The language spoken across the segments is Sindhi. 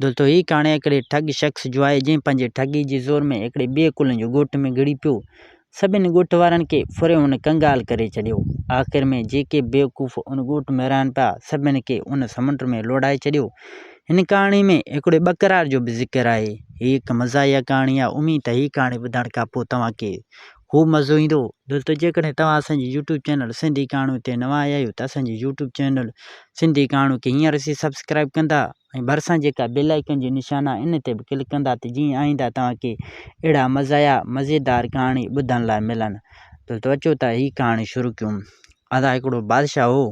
دولتو، هيء ڪهاڻي هڪڙي ٺڳ شخص جو آهي، جنهن پنهنجي ٺڳي جي زور ۾ هڪڙي ٻئي ڪلهن جو ڳوٺ ۾ گهڙي پيو. سڀني ڳوٺ وارن کي ڦري هن ڪنگال ڪري ڇڏيو. آخر ۾ جيڪي بيوقوف ان ڳوٺ ۾ رهن پيا، سڀني کي ان سمنڊ ۾ لوڙهائي ڇڏيو. هن ڪهاڻي ۾ هڪڙي ٻڪرار جو به ذڪر آهي. هيء هڪ مزاحيه ڪهاڻي آهي. اميد ته هيء ڪهاڻي ٻڌڻ کان پوء توهان کي خوب مزو ايندو دوستو جيڪڏهن توهان اسان جي يوٽيوب چينل سنڌي ڪهاڻيون تي نوان آيا آهيو ته اسان جي يوٽيوب چينل سنڌي ڪهاڻيون کي هينئر سين سبسڪرائب ڪندا ۽ ڀرسان جيڪا بيل آئڪن جو نشان آهي ان تي به ڪلڪ ڪندا ته جيئن آئنده توهان کي اهڙا مزايا مزيدار ڪهاڻي ٻڌڻ لاء ملن دوستو اچو ته هي ڪهاڻي شروع ڪيون ادا هڪڙو بادشاهه هو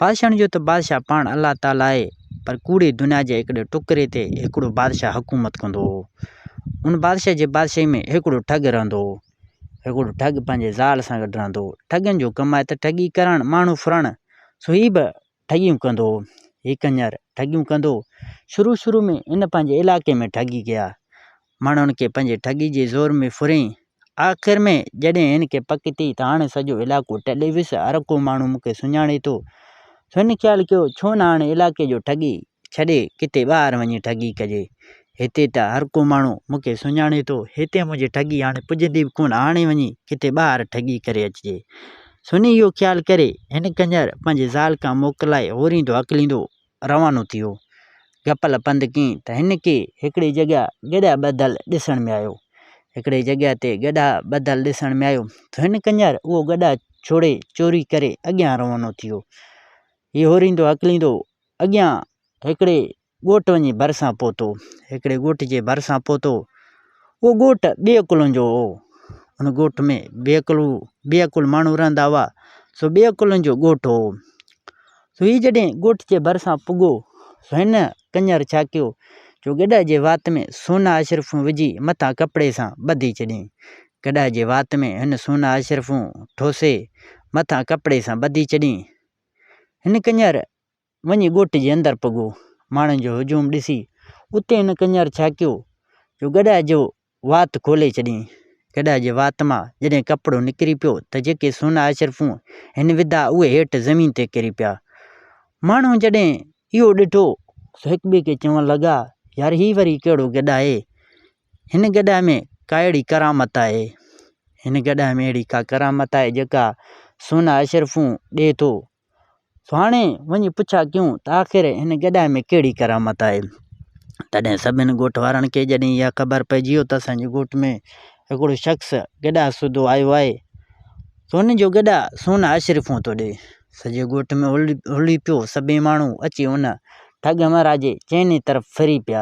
بادشاهڻ جو ته بادشاهه پاڻ الله تعاليٰ آهي پر ڪوڙي دنيا جي هڪڙي ٽڪري تي هڪڙو بادشاهه حڪومت ڪندو هو. ان بادشاهه جي بادشاهي ۾ هڪڙو ٺڳ رهندو هو. هڪڙو ٺڳ پنهنجي زال سان گڏ رهندو هو. ٺڳن جو ڪم آهي ته ٺڳي ڪرڻ، ماڻهو ڦرڻ، سو هي به ٺڳيون ڪندو هو. هي ڪڃر ٺڳيون ڪندو هو. شروع شروع ۾ هن پنهنجي علائقي ۾ ٺڳي ڪيا. ماڻهن کي پنهنجي ٺڳي جي زور ۾ ڦرين. آخر ۾ جڏهن هن کي پڪ ٿي ته هاڻ سڄو علائقو ٽلي ويس، هر ڪو ماڻهو مون کي سڃاڻي ٿو. هن خيال ڪيو ڇو نه هاڻ علائقي جو ٺڳي ڇڏي ڪٿي ٻاهر وڃي ٺڳي ڪجي. هتي ته هر ڪو ماڻهو مون کي سڃاڻي ٿو، هتي منهنجي ٺڳي هاڻ پڄندي به ڪونه، هاڻي وڃي ڪٿي ٻاهر ٺڳي ڪري اچجي. سني اهو خيال ڪري، هن ڪنجر پنهنجي زال کان موڪلائي هوريندو هڪليندو روانو ٿيو. گپل پنڌ ڪين ته هن کي هڪڙي جڳهه گڏهه ٻڌل ڏسڻ ۾ آيو. هڪڙي جڳهه تي گڏهه ٻڌل ڏسڻ ۾ آيو ته هن ڪڃر اهو گڏهه ڇوڙي چوري ڪري اڳيان روانو ٿيو. هي هوريندو هڪليندو اڳيان هڪڙي ڳوٺ وڃي ڀرسان پهتو. هڪڙي ڳوٺ جي ڀرسان پهتو. اهو ڳوٺ ٻئي عقلن جو هو. ان ڳوٺ ۾ بي عقل هو. بي عقل ماڻهو رهندا هئا. سو ٻئي عقلن جو ڳوٺ هو. سوئي جڏهن ڳوٺ جي ڀرسان پڳو، هن ڪڃر ڇا ڪيو جو گڏهه جي وات ۾ سونا اشرفون وجهي مٿان ڪپڙي سان ٻڌي ڇڏيائين. گڏهه جي وات ۾ هن سونا اشرفون ٺوسي مٿان ڪپڙي سان ٻڌي ڇڏيائين. هن ڪڃر وڃي ڳوٺ جي اندر پڳو. ماڻهن جو هجوم ڏسي اتي هن ڪڃر ڇا ڪيو جو گڏهه جو وات کولي ڇڏيائين. گڏهه جي وات مان جڏهن ڪپڙو نڪري پيو ته جيڪي سونا اشرفون هن وڌا اهي هيٺ زمين تي ڪري پيا. ماڻهو جڏهن اهو ڏٺو سو هڪ ٻئي کي چوڻ لڳا، يار هي وري ڪهڙو گڏهه آهي؟ هن گڏهه ۾ ڪا اهڙي ڪرامت آهي؟ هن گڏهه ۾ اهڙي ڪا ڪرامت آهي جيڪا سونا اشرفون ڏئي ٿو؟ سهاڻي وڃي پڇا ڪيون ته آخر هن گڏاهه ۾ ڪهڙي ڪرامت آهي؟ تڏهن سڀني ڳوٺ وارن کي جڏهن اها خبر پئجي ويو ته اسان جي ڳوٺ ۾ هڪڙو شخص گڏاهه سوڌو آيو آهي، سوني جو گڏاهه سونا اشرفون ٿو ڏئي. سڄي ڳوٺ ۾ هلڙي پيو، سڀئي ماڻهو اچي ان ٺڳ همراهه جي چئني طرف ڦري پيا.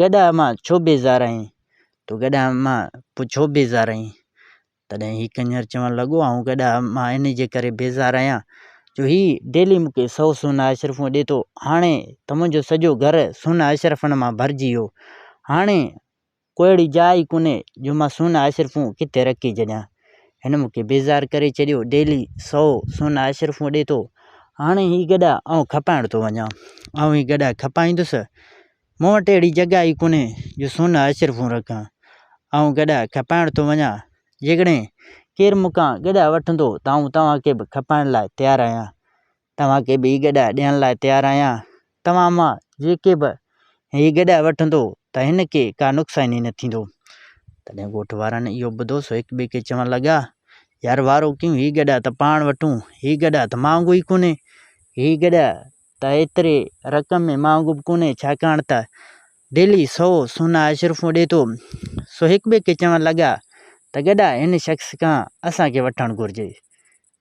گڏا اما ڇو بيزار آهين؟ تون گڏا اما پوء ڇو بيزار آهين؟ تڏهن هي ڪڃر چوڻ لڳو، آئون گڏا اما انهيء ڪري بيزار آهيان، جو هي ڊيلي مون کي سؤ سونا اشرفون ڏي ٿو. هاڻي ته منهنجو سڄو گهر سونا اشرفن مان ڀرجي ويو. هاڻي ڪو اهڙي جاء ئي ڪونهي، جو مان سونا اشرفون ڪٿي رکي ڇڏيان. هن مون کي بيزار ڪري ڇڏيو، ڊيلي سؤ سونا اشرفون ڏي ٿو. هاڻي هي گڏا آئون کپائڻ ٿو وڃان. آئون هي گڏا کپائيندس. مون وٽ اهڙي جڳهه ئي ڪونهي جو سون جا اشرفون رکان. آئون گڏها کپائڻ ٿو وڃان. جيڪڏهن ڪير مون کان گڏها وٺندو ته آئون توهان کي به کپائڻ لاء تيار آهيان. توهان کي به هي گڏها ڏيڻ لاء تيار آهيان. توهان مان جيڪي به هي گڏها وٺندو ته هن کي ڪا نقصان نه ٿيندو. تڏهن ڳوٺ وارن اهو ٻڌو سو هڪٻئي کي چوڻ لڳا، يار وارو ڪيون هي گڏها ته پاڻ وٺون. هي گڏها ته مهانگو ئي ڪونهي. هي گڏها ته ايتري رقم ۾ مهانگو به ڪونهي، ڇاڪاڻ ته ڊيلي سؤ سونا اشرفون ڏي ٿو. سو هڪ ٻئي کي چوڻ لڳا ته گڏا هن شخص کان اسان کي وٺڻ گهرجي.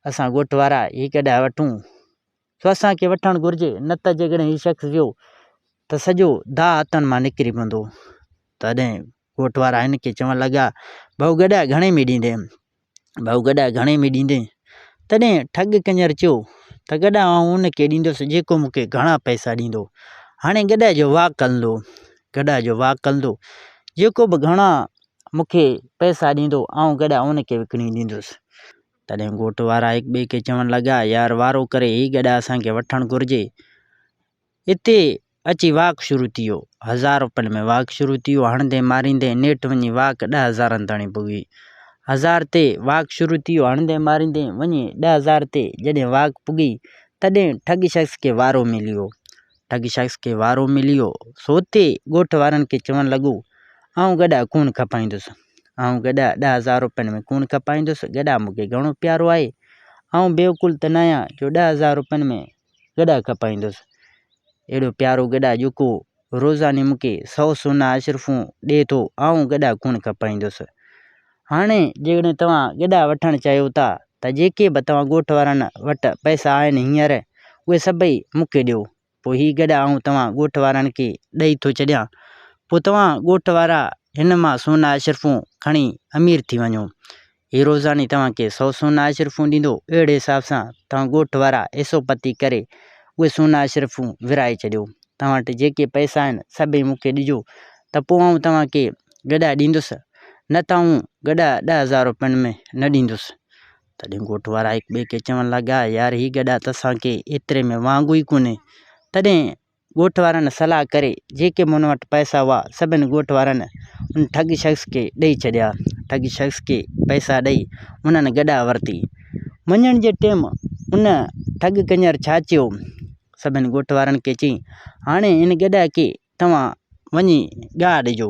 اسان ڳوٺ وارا هي گڏا وٺون سو اسان کي وٺڻ گهرجي نه ته جيڪڏهن هي شخص ويو ته سڄو داء هٿن مان نڪري پوندو. تڏهن ڳوٺ وارا هن کي چوڻ لڳا، ڀائو گڏا گهڻي ۾ ڏيندين؟ ڀائو گڏا گهڻي ۾ ڏيندين؟ تڏهن ٺڳ ڪڃر چيو ته گڏا آئون ان کي ڏيندس جيڪو مون کي گهڻا پئسا ڏيندو. هاڻي گڏا جو واڪ هلندو. گڏا جو واڪ هلندو. جيڪو به گهڻا مون کي پئسا ڏيندو آئون گڏا ان کي وڪڻي ڏيندس. تڏهن ڳوٺ وارا هڪٻئي کي چوڻ لڳا يار وارو ڪري هي گڏا اسان کي وٺڻ گهرجي. اتي اچي واڪ شروع ٿيو. هزار روپين ۾ واڪ شروع ٿيو. هڻندي ماريندي نيٺ وڃي واڪ ڏهه هزارن تائين پڳي. هزار تي واڪ شروع ٿيو. هڻندي ماريندي وڃي ڏهه هزار تي جڏهن واڪ پڳي تڏهن ٺڳ شخص کي وارو مليو. ٺڳ شخص کي وارو مليو سو اتي ڳوٺ وارن کي چوڻ لڳو، آئون گڏا ڪونه کپائيندس. آئون گڏا ڏهه هزار روپين ۾ ڪونه کپائيندس. گڏا مون کي گهڻو پيارو آهي. آئون بيعقول ته ناهيان جو ڏهه هزار روپين ۾ گڏا کپائيندس اهڙو پيارو گڏا جيڪو روزاني مون کي سؤ سونا اشرفون ڏي ٿو آئون گڏا ڪونه کپائيندس هاڻي جيڪڏهن توهان گڏا وٺڻ چاهيو ٿا ته جيڪي به توهان ڳوٺ وارن وٽ پئسا آهن هينئر اهي سڀئي مون کي ڏيو پوء هي گڏا آئون توهان ڳوٺ وارن کي ڏئي ٿو ڇڏيان پوء توهان ڳوٺ وارا هن مان سونا اشرفون کڻي امير ٿي وڃو هي روزاني توهان کي سؤ سونا اشرفون ڏيندو، اهڙي حساب سان توهان ڳوٺ وارا حصو پتي ڪري اهي سونا اشرفون ورهائي ڇڏيو. توهان وٽ جيڪي پئسا آهن، سڀئي مون کي ڏجو ته پوء آئون توهان کي گڏها ڏيندس، نه ته آئون گڏها ڏهه هزار روپين ۾ نه ڏيندس. تڏهن ڳوٺ وارا هڪٻئي کي چوڻ لڳا، يار هي گڏها ته اسان کي ايتري ۾ وانگو ئي ڪونهي، تڏهن ڳوٺ وارن صلاح ڪري جيڪي مون وٽ پئسا هئا سڀني ڳوٺ وارن ان ٺڳ شخص کي ڏئي ڇڏيا. ٺڳ شخص کي پئسا ڏئي انهن گڏاهه ورتي. منجهند جي ٽيم ان ٺڳ ڪڃر ڇا چيو؟ سڀني ڳوٺ وارن کي چيائين هاڻي ان گڏاهه کي توهان وڃي ڳاهه ڏجو.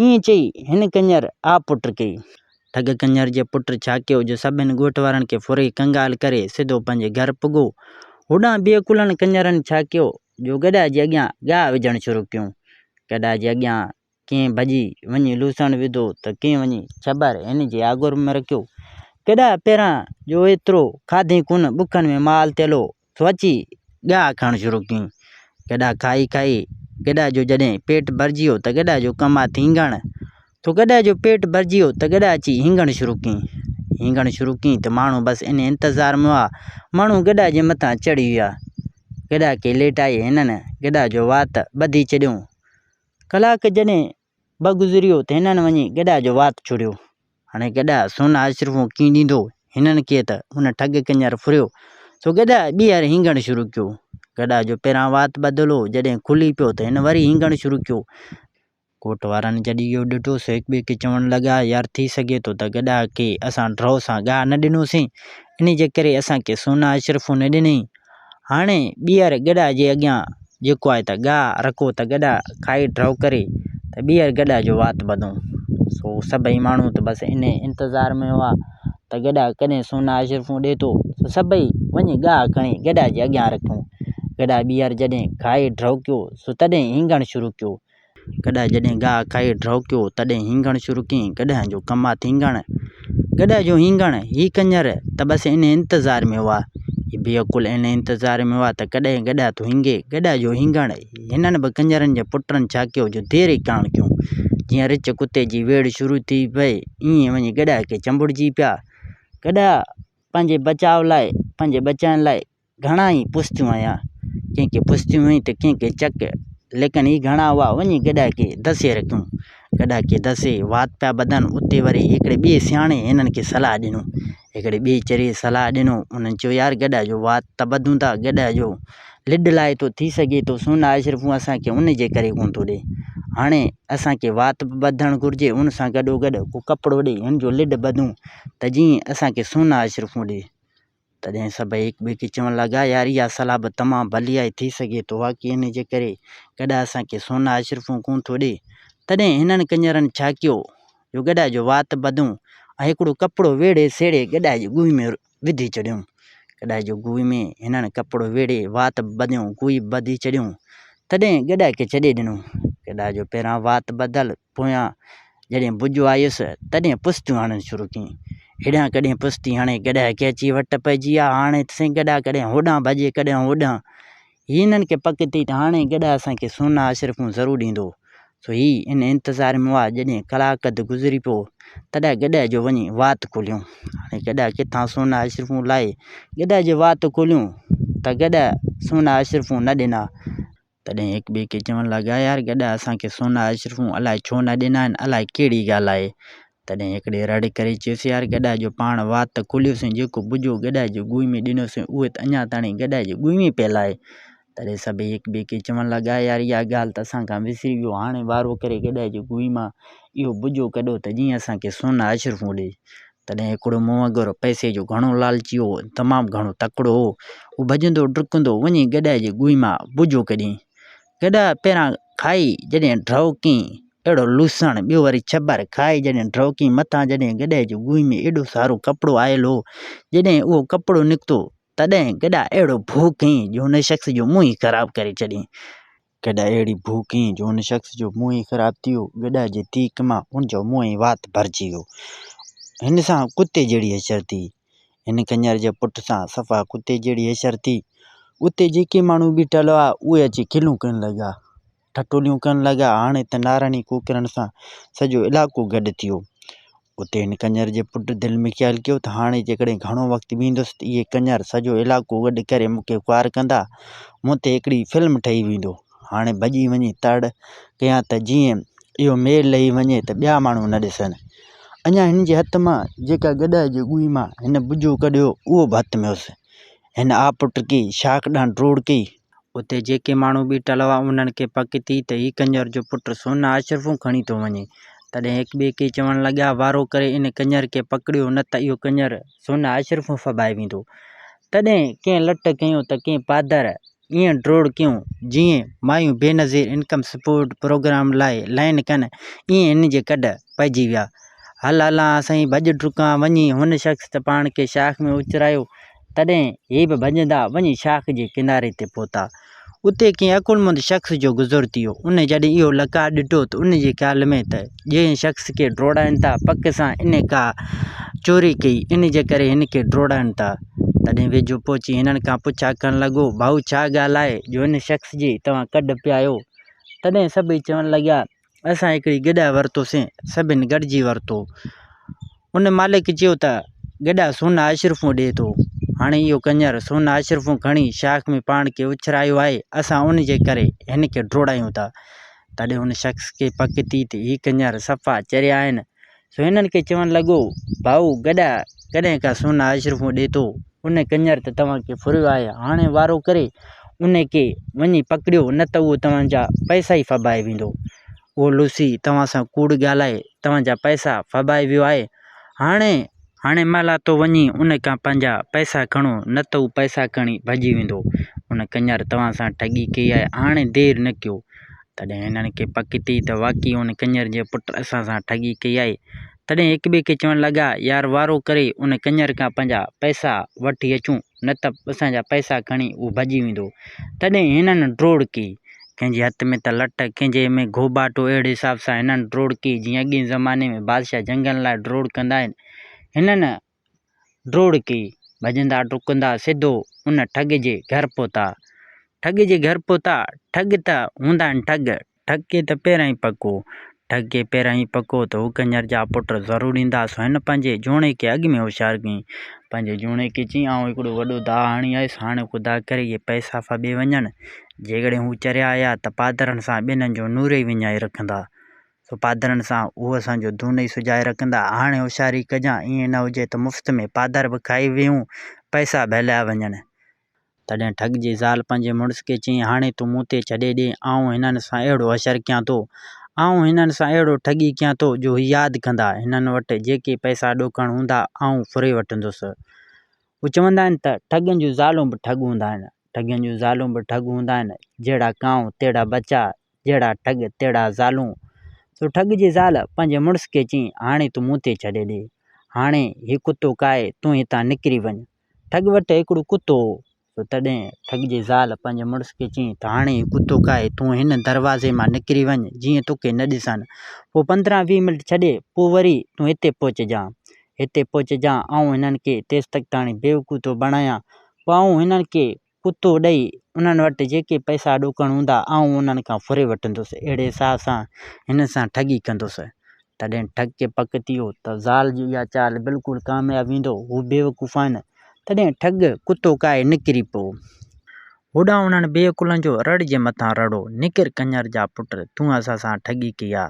ائين چئي هن ڪڃر آ پٽ ڪئي. ٺڳ ڪڃر جي پٽ ڇا ڪيو جو سڀني ڳوٺ وارن کي ڦري ڪنگال ڪري سڌو پنهنجي گهر پڳو. هوڏانهن ٻئي ڪلن ڪڃرن ڇا ڪيو جو گڏهه جي اڳيان ڳاهه وجهڻ شروع ڪيون. گڏهه جي اڳيان ڪنهن ڀڄي وڃي لوسڻ وڌو ته ڪنهن وڃي ڇٻر هن جي آڳر ۾ رکيو. گڏهه پهران جو ايترو کاڌئين ڪونه، بکن ۾ مال تيلو سوچي ڳاھه کڻڻ شروع ڪيائين. گڏا کائي کائي گڏا جو جڏھن پيٽ ڀرجي ويو ته گڏا جو ڪم آھي ھينگڻ تو گڏا جو پيٽ ڀرجي ويو ته گڏا اچي ھينگڻ شروع ڪيائين. ھينگڻ شروع ڪيائين ته ماڻھو بس ان انتظار ۾ ھئا. ماڻھو گڏا جي مٿان چڙھي ويا. گڏا کي ليٽائي ھنن گڏا جو وات ٻڌي ڇڏيو. ڪلاڪ جڏھن به گذريو ته هنن وڃي گڏا جو وات چڙهيو. هاڻي گڏا سون آشرفون ڪيئن ڏيندو؟ هنن ڪي ته ان ٺڳ ڪڃر ڦريو، سو گڏا ٻيهر هينگڻ شروع ڪيو. گڏا جو پهران وات ٻڌل هو، جڏهن کلي پيو ته هن وري هينگڻ شروع ڪيو. ڪوٽ وارن جڏهن اهو ڏٺو سو هڪٻئي کي چوڻ لڳا، يار ٿي سگهي ٿو ته گڏا کي اسان ڊرو سان گاهه نه ڏنوسين، انهيء جي ڪري اسان کي سون آشرفون نه ڏنئي، هاڻي ٻيهر گڏا جي اڳيان جهڪو آهي ته ڳاء، رکو ته گڏا کائي ڊرئو ڪري ته ٻيهر گڏا جو وات ٻڌون. سو سڀئي ماڻهو ته بس انهيء انتظار ۾ هئا ته گڏا ڪڏهن سونا اشرفون ڏئي ٿو. سو سڀئي وڃي ڳاء کڻي گڏا جي اڳيان رکيون. گڏا ٻيهر جڏهن کائي ڊرئو ڪيو سو تڏهن هينگڻ شروع ڪيو. گڏهه جڏهن گاهه کائي ڊهوڪيو، تڏهن هينگڻ شروع ڪيائين، گڏهه جو ڪم آ ٿينگڻ، گڏهه جو هينگڻ، هي ڪڃر ته بس ان انتظار ۾ هئا، هي بيعقل ان انتظار ۾ هئا ته ڪڏهن گڏهه ٿو هينگي، گڏهه جو هينگڻ، هنن به ڪڃرن جي پٽن ڇا ڪيو جو دير ئي ڪاڻ ڪيون، جيئن رچ ڪتي جي ويڙهه شروع ٿي پئي، ايئن وڃي گڏهه کي چنبڙجي پيا، گڏهه پنهنجي بچاء لاء، پنهنجي ٻچن لاء، گهڻا ئي پستيون هنيا، ڪنهن ڪي پستيون هنئي ته ڪنهن ڪي چڪ، ليڪن هي گهڻا هئا، وڃي گڏا ڪي دسي رکيون. گڏا ڪي دسي وات پيا ٻڌن، اتي وري هڪڙي ٻئي سياڻي هنن کي صلاح ڏنو. هڪڙي ٻئي چريي صلاح ڏنو، انهن چيو يار گڏا جو وات ته ٻڌون ٿا، گڏا جو لڏ لاء ٿو، ٿي سگهي ٿو سون نه آء شرفون اسان کي ان جي ڪري ڪونه ٿو ڏئي. هاڻي اسان کي وات به ٻڌڻ گهرجي، ان سان گڏو گڏ ڪو ڪپڙو ڏئي، هن جو لڏ ٻڌون ته جيئن اسان کي سون نه آء شرفون ڏئي. تڏهن سڀئي هڪ ٻئي کي چوڻ لڳا، يار اها صلاح به تمام ڀليائي ٿي سگهي ٿو ها ڪي انهيء جي ڪري گڏا اسان کي سونا اشرفون ڪونه ٿو ڏئي. تڏهن هنن ڪڃرن ڇا ڪيو جو گڏا جو وات ٻڌو ۽ هڪڙو ڪپڙو ويڙهي سيڙهي گڏا جي گوئي ۾ وڌي ڇڏيو. گڏا جو گوئي ۾ هنن ڪپڙو ويڙهي وات ٻڌيو گوئي ٻڌي ڇڏيو. تڏهن گڏا کي ڇڏي ڏنو. گڏا جو پهريان وات ٻڌل. پويان جڏهن بجو آيس، تڏهن پستيون هڻڻ شروع ڪيائين. هيڏانهن ڪڏهن پستي هڻي گڏهه ڪيچي وٽ پئجي آ، هاڻي سين گڏهه ڪڏهن هوڏانهن ڀڄي ڪڏهن هوڏانهن. هي هنن کي پڪ ٿي ته هاڻي گڏهه اسان کي سونا اشرفون ضرور ڏيندو. سو هي ان انتظار ۾ هئا، جڏهن ڪلاڪ اڌ گذري پيو، تڏهن گڏهه جو وڃي وات کوليون. هاڻي گڏهه ڪٿان سونا اشرفون لاهي. گڏهه جي وات کوليون ته گڏهه سونا اشرفون نه ڏنا. تڏهن هڪ ٻئي کي چوڻ لڳا، يار گڏا اسان کي سونا اشرفون الائي ڇو نه ڏنا آهن، الائي ڪهڙي ڳالهه آهي. تڏهن هڪڙي رڙ ڪري چيس، يار گڏا جو پاڻ وات ته کوليوسين، جيڪو ٻجو گڏا جي ڳوئي ۾ ڏنوسين، اهو ته اڃا تاڻي گڏا جي ڳوئي ۾ پيل آهي. تڏهن سڀئي هڪ ٻئي کي چوڻ لڳا، يار اها ڳالهه ته اسان کان وسري ويو، هاڻي وارو ڪري گڏا جي ڳوئي مان اهو ٻجو ڪڍو ته جيئن اسان کي سونا اشرفون ڏئي. تڏهن هڪڙو منهنگر پئسي جو گهڻو لالچي هو ۽ تمام گهڻو تڪڙو هو. هو ڀڄندو ڊڪندو وڃي گڏهه جي گوئي مان بجو ڪڍين. گڏهه پهران کائي جڏهن ڊرئوڪين اهڙو لوسڻ، ٻيو وري ڇٻر کائي جڏهن ڊرئوڪين مٿان جڏهن گڏهه جي گوئي ۾ ايڏو سارو ڪپڙو آيل هو. جڏهن اهو ڪپڙو نڪتو تڏهن گڏهه اهڙو ڀو ڪيئين جو هن شخص جو منهن ئي خراب ڪري ڇڏيئين. گڏا اهڙي بوء ڪيئن جو ان شخص جو منهن ئي خراب ٿي ويو. گڏا جي تيڪ مان ان جو منهن ئي وات ڀرجي ويو. هن سان ڪتي جهڙي حشر ٿي. هن کنير جي پٽ سان صفا ڪتي جهڙي حشر ٿي. اتي جيڪي ماڻهو بيٺل هئا اهي اچي کلون ڪرڻ لڳا. ٺٽوليون ڪرڻ لڳا. هاڻي ته نارڻي ڪوڪرن سان سڄو علائقو گڏ ٿي ويو. اتي هن ڪنڃر جي پٽ دل ۾ خيال ڪيو ته هاڻي جيڪڏهن گهڻو وقت بيهندس ته اهي ڪنڃر سڄو علائقو گڏ ڪري مون کي خوار ڪندا. مون تي هڪڙي فلم ٺهي ويندو. هاڻي ڀڄي وڃي تڙ ڪيان ته جيئن اهو مير لهي وڃي ته ٻيا ماڻهو نه ڏسن. اڃا هن جي هٿ مان جيڪا گڏهه جي ڳوئي مان هن ٻجو ڪڍيو اهو به هٿ ۾ هيس. هن آپٽڪي شاخ ڏانهن ڊوڙ ڪئي اتي جيڪي ماڻهو ٻيٺل هئا، انهن کي پڪ ٿي ته هي ڪنڃر جو پٽ سونا اشرفون کڻي ٿو وڃي، تڏهن هڪ ٻئي کي چوڻ لڳا، وارو ڪري ان ڪنڃر کي پڪڙيو، نه ته اهو ڪنڃر سونا اشرفون ڦٻائي ويندو. تڏهن ڪنهن لٽ ڪيون ته ڪنهن پادر ائين ڊوڙ ڪيون، جيئن مايون بينظير انڪم سپورٽ پروگرام لاء لائين ڪن، ائين هن جي ڪڍ پئجي ويا. هل هلان سائين، ڀڄ ڊڪان، وڃي هن شخص ته پاڻ کي شاخ ۾ اچرايو، تڏهن هي به ڀڄندا وڃي شاخ جي ڪناري تي پهتا. اتي ڪنهن عقلمند شخص جو گذر ٿيو. ان جڏهن اهو لقاء ڏٺو ته ان جي خيال ۾ ته جنهن شخص کي ڊوڙائن ٿا پڪ سان انهي ڪا چوري ڪئي ان جي ڪري هن کي ڊوڙائن ٿا. تڏهن ويجهو پهچي هنن کان پڇا ڪرڻ لڳو ڀائو ڇا ڳالهه آهي جو هن شخص جي توهان ڪڍ پيا آهيو. تڏهن سڀئي چوڻ لڳا اسان هڪڙي گڏهه ورتوسين، سڀن گڏجي ورتو. ان مالڪ چيو ته گڏهه سون اشرفون ڏئي ٿو. هاڻي اهو ڪڃر سون اشرفون کڻي شاخ ۾ پاڻ کي اڇرايو آهي، اسان ان جي ڪري هن کي ڊوڙايون ٿا. تڏهن ان شخص کي پڪ ٿي ته هي ڪڃر صفا چريا آهن، سو هنن کي چوڻ لڳو، ڀائو گڏا ڪڏهن ڪا سونا اشرفون ڏيتو، ان ڪڃر ته توهان کي ڦريو آهي، هاڻي وارو ڪري ان کي وڃي پڪڙيو نه ته اهو توهان جا پئسا ئي ڦٻائي ويندو. اهو لوسي توهان سان ڪوڙ ڳالهائي توهان جا پئسا ڦٻائي ويو آهي، هاڻي هاڻي مهل آ تو وڃي ان کان پنهنجا پئسا کڻو نه ته هو پئسا کڻي ڀڄي ويندو، ان ڪڃر توهان سان ٺڳي ڪئي آهي، هاڻي دير نه ڪيو. تڏهن هنن کي پڪ ٿي ته واقعي ان ڪڃر جي پٽ اسان سان ٺڳي ڪئي آهي. تڏهن هڪٻئي کي چوڻ لڳا، يار وارو ڪري ان ڪڃر کان پنهنجا پئسا وٺي اچون، نه ته اسان جا پئسا کڻي اهو ڀڄي ويندو. تڏهن هنن ڊوڙ ڪئي. ڪنهن جي هٿ ۾ ته لٽ، ڪنهن جي ۾ گهوٻاٽو اهڙي حساب سان هنن ڊوڙ ڪئي، جيئن اڳئين زماني ۾ بادشاهه جنگن لاء ڊوڙ ڪندا آهن. هنن ڊوڙڪي، ڀڄندا ڊڪندا سڌو ان ٺڳ جي گهر پهتا. ٺڳ جي گهر پهتا، ٺڳ ته هوندا آهن ٺڳ، ٺڳ کي ته پهريائين پڪو، ٺڳ کي پهريائين پڪو ته هو ڪڃر جا پٽ ضرور ايندا، سو هن پنهنجي جوڻي کي اڳ ۾ هوشيار ڪيائين، پنهنجي جوڻي کي چيائين آئون هڪڙو وڏو داء هڻي آيس، هاڻي خدا ڪري اهي پئسا ڦٻي وڃن، جيڪڏهن هو چريا آيا ته پادرن سان ٻنهي جو نورئي وڃائي رکندا، سو پادرن سان اهو اسان جو دون ئي سجائي رکندا. هاڻي هوشياري ڪجان، ائين نه هجي ته مفت ۾ پادر به کائي ويهون، پئسا به هليا وڃن. تڏهن ٺڳ جي زال پنهنجي مڙس کي چيائين، هاڻي تون مون تي ڇڏي ڏي، آئون هنن سان اهڙو حشر ڪيان ٿو. آئون هنن سان اهڙو ٺڳي ڪيان ٿو، جو هي ياد ڪندا. هنن وٽ جيڪي پئسا ڏوڪڻ هوندا، آئون ڦري وٺندس. اهو چوندا آهن ته، ٺڳن جون زالون به ٺڳ هوندا آهن. ٺڳن جون زالون به ٺڳ هوندا آهن. جهڙا ڪانء، تهڙا ٻچا. جهڙا ٺڳ تهڙا زالون. سو ٺڳ جي زال پنهنجي مڙس کي چيائين، هاڻي تون مون تي ڇڏي ڏي. هاڻي هي ڪتو ڪاهي، تون هتان نڪري وڃ. ٺڳ وٽ هڪڙو ڪتو هو. سو تڏهن ٺڳ جي زال پنهنجي مڙس کي چيائين ته هاڻي هي ڪتو ڪاهي، تون هن دروازي مان نڪري وڃ، جيئن توکي نه ڏسان. پوء پندرهن ويهه منٽ ڇڏي، پوء وري تون هتي پهچجان. هتي پهچجان، آئون هنن کي تيستقتاڻي بيوقوتو بڻايان. پوء آئون هنن کي ڪتو ڏئي انهن وٽ جيڪي پئسا ڏوڪڻ هوندا، آئون انهن کان ڦري وٺندس. اهڙي حساب سان هن سان ٺڳي ڪندس. تڏهن ٺڳ کي پڪ ٿي ويو ته زال جي اها چال بلڪل ڪامياب ويندو. هو بيوقوف آهن. تڏهن ٺڳ ڪتو ڪاهي نڪري پيو. هوڏانهن انهن بيعقلن جو رڙ جي مٿان رڙو، نڪر ڪڃر جا پٽ، تون اسان سان ٺڳي ڪئي آ.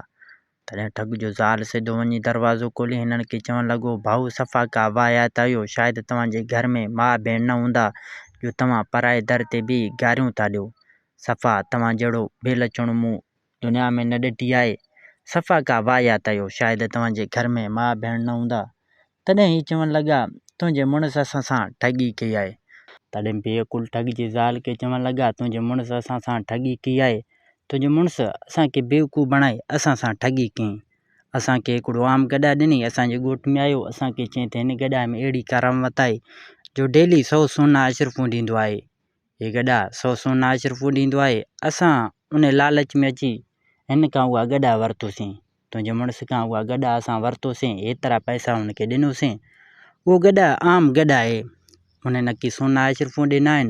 تڏهن ٺڳ جو زال سڌو وڃي دروازو کولي هنن کي چوڻ لڳو، ڀائو صفا ڪا واهيات آهيو، شايد توهان جي گهر ۾ ماء ڀيڻ نه هوندا جو توهان پرائي در تي بيهي گاريون ٿا ڏيو. صفا توهان جهڙو بي لڇڻو مون دنيا ۾ نه ڏٺي آهي. صفا ڪا واهيات آهيو، شايد توهان جي گهر ۾ ماء ڀيڻ نه هوندا تڏهن هي چوڻ لڳا، تنهنجي مڙس اسان سان ٺڳي ڪئي آهي. تڏهن بي عقل ٺڳ جي زال کي چوڻ لڳا، تنهنجي مڙس اسان سان ٺڳي ڪئي آهي. تنهنجي مڙس اسان کي بيوقوف بڻائي اسان سان ٺڳي ڪيائين. اسان کي هڪڙو عام گڏهه ڏنئي، اسان جي ڳوٺ ۾ آيو، اسان کي چيائين ته هن گڏهه ۾ اهڙي ڪرامت آهي، جو ڊيلي سؤ سونا اشرفون ڏيندو آهي. هي گڏهه سؤ سونا اشرفون ڏيندو آهي. اسان انهي لالچ ۾ اچي هن کان اها گڏهه ورتوسين. تنهنجي مڙس کان اها گڏهه اسان ورتوسين، ايترا پئسا هن کي ڏنوسين. اهو گڏهه عام گڏهه آهي. هن نڪي سونا اشرفون ڏي ناهن.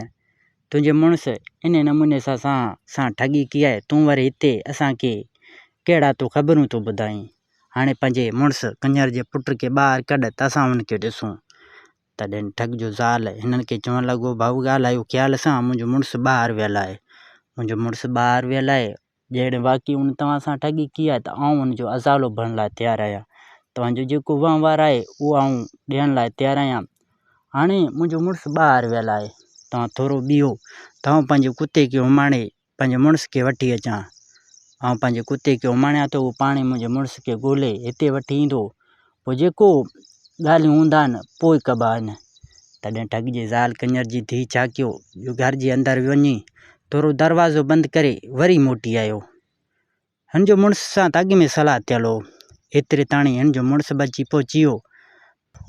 تنهنجي مڙس انهي نموني سان اسان سان ٺڳي ڪئي آهي، تون وري هتي اسان کي ڪهڙا تو خبرون ٿو ٻڌائين. هاڻي پنهنجي مڙس ڪڃر جي پٽ کي ٻاهر ڪڍ ته اسان هن کي ڏسون. تڏهن ٺڳ جو زال هنن کي چوڻ لڳو، ڀائو ڳالهايو خيال سان، منهنجو مڙس ٻاهر ويل آهي. منهنجو مڙس ٻاهر ويل آهي، جيئن واقعي ان توهان سان ٺڳي ڪئي آهي ته آئون ان جو ازالو ڀرڻ لاء تيار آهيان. توهان جو جيڪو وهنوار آهي اهو آئون ڏيڻ لاء تيار آهيان. هاڻي منهنجو مڙس ٻاهر ويل آهي. توهان ٿورو بيهو ته آئون پنهنجي ڪتي کي اماڻي پنهنجي مڙس کي وٺي اچان. آئون پنهنجي ڪتي کي اماڻيان ته اهو پاڻهي منهنجي مڙس کي ڳولي هتي وٺي ايندو. پوء جيڪو ڳالهيون هوندا آهن پوء ڪبا آهن. تڏهن ٺڳ جي زال ڪڃر جي ڌيء ڇا ڪيو جو گهر جي اندر وڃي ٿورو دروازو بند ڪري وري موٽي آيو. هن جو مڙس سان ته اڳ ۾ صلاح ٿيل هو. ايتري تاڻي هن جو مڙس به اچي پهچي ويو.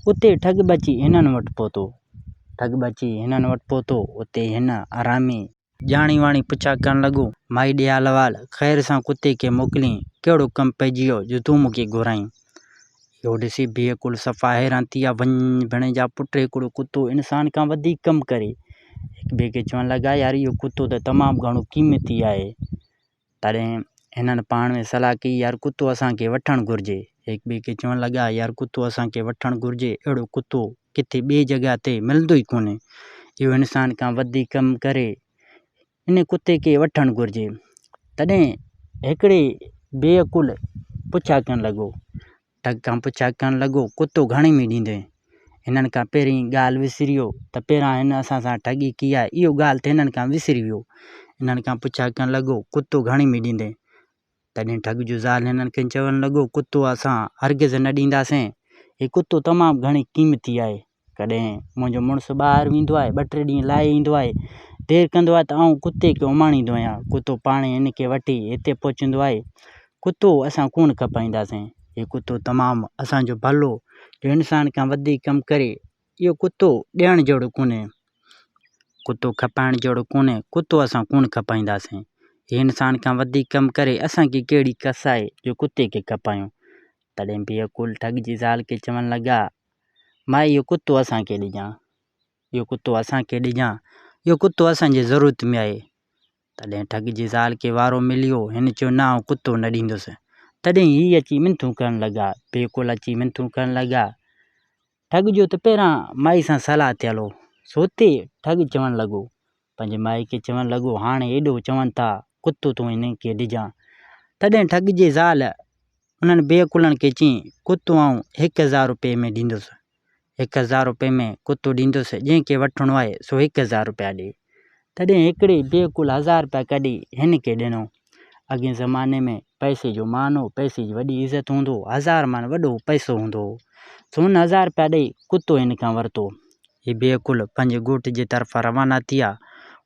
اتي ٺڳ به اچي هنن وٽ پهتو. ٺڳ به اچي هنن وٽ پهتو اتي هن آرامي. ڄاڻي واڻي پڇا ڪرڻ لڳو، مائي ڏيال وال، خير سان ڪتي کي موڪلين، ڪهڙو ڪم پئجي ويو جو تون مون کي گهرائين؟ اهو ڏسي بيهه ڪل صفا حيران ٿي ويا، وڃ ڀيڻي جا پٽ هڪڙو ڪتو انسان کان وڌيڪ ڪم ڪري. هڪ ٻئي کي چوڻ لڳا، يار اهو ڪتو ته تمام گهڻو قيمتي آهي. تڏهن هنن پاڻ ۾ صلاح ڪئي يار ڪتو اسان کي وٺڻ گهرجي. هڪ ٻئي کي چوڻ لڳا يار ڪتو اسان کي وٺڻ گهرجي اهڙو ڪتو ڪٿي ٻئي جڳهه تي ملندو ئي ڪونهي. اهو انسان کان وڌيڪ ڪم ڪري. ان ڪتي کي وٺڻ گهرجي. تڏهن هڪڙي بي عقل پڇا ڪرڻ لڳو. ڍڳ کان پڇا ڪرڻ لڳو، ڪتو گهڻي ۾ ڏيندين؟ هنن کان پهرين ڳالهه وسريو ته پهريان هن اسان سان ٺڳي ڪئي آهي، اهو ڳالهه ته هنن کان وسري ويو. هنن کان پڇا ڪرڻ لڳو، ڪتو گهڻي ۾ ڏيندين؟ تڏهن ڍڳ جو زال هنن کي چوڻ لڳو، ڪتو اسان هرگز نه ڏينداسين. هي ڪتو تمام گهڻي قيمتي آهي. ڪڏهن منهنجو مڙس ٻاهر ويندو آهي ٻه ٽي ڏينهن لاهي ايندو آهي دير ڪندو آهي ته آئون ڪتي کي اماڻيندو آهيان ڪتو پاڻ ئي هن کي وٺي هتي پهچندو آهي ڪتو اسان ڪونه کپائينداسين هي ڪتو تمام اسانجو ڀلو جو انسان کان وڌيڪ ڪم ڪري اهو ڪتو ڏيڻ جهڙو ڪونهي ڪتو کپائڻ جهڙو ڪونهي ڪتو اسان ڪونه کپائينداسين هي انسان کان وڌيڪ ڪم ڪري اسانکي ڪهڙي ڪس آهي جو ڪتي کي کپايون تڏهن بيعقول ٺڳ جي زال کي چوڻ لڳا ماء اهو ڪتو اسان کي ڏجان، اهو ڪتو اسان کي ڏجان، اهو ڪتو اسان جي ضرورت ۾ آهي. تڏهن ٺڳ جي زال کي وارو مليو، هن چيو نه آئون ڪتو نه ڏيندس. تڏهن هي اچي منٿون ڪرڻ لڳا، بيڪل اچي منٿون ڪرڻ لڳا. ٺڳ چيو ته پهريان مائي سان صلاح ٿي هلو. سوتي ٺڳ چوڻ لڳو پنهنجي مائي کي چوڻ لڳو، هاڻي ايڏو چون ٿا ڪتو تون انهن کي ڏجان. تڏهن ٺڳ جي زال انهن بي عقلن کي چيائين، ڪتو آئون هڪ هزار روپيه ۾ ڏيندس. هڪ هزار روپيه ۾ ڪتو ڏيندس، جنهن کي وٺڻو آهي سو هڪ هزار روپيا ڏي. تڏهن هڪڙي بي عقل هزار روپيا ڪڍي هن کي ڏنو. اڳئين زماني ۾ پئسي جو مان هو، پئسي جي وڏي عزت هوندو هو، هزار ماڻ وڏو پئسو هوندو هو، سون هزار رپيا ڏئي ڪتو هن کان ورتو. هي بي عقل پنهنجي ڳوٺ جي طرفان روانا ٿيا،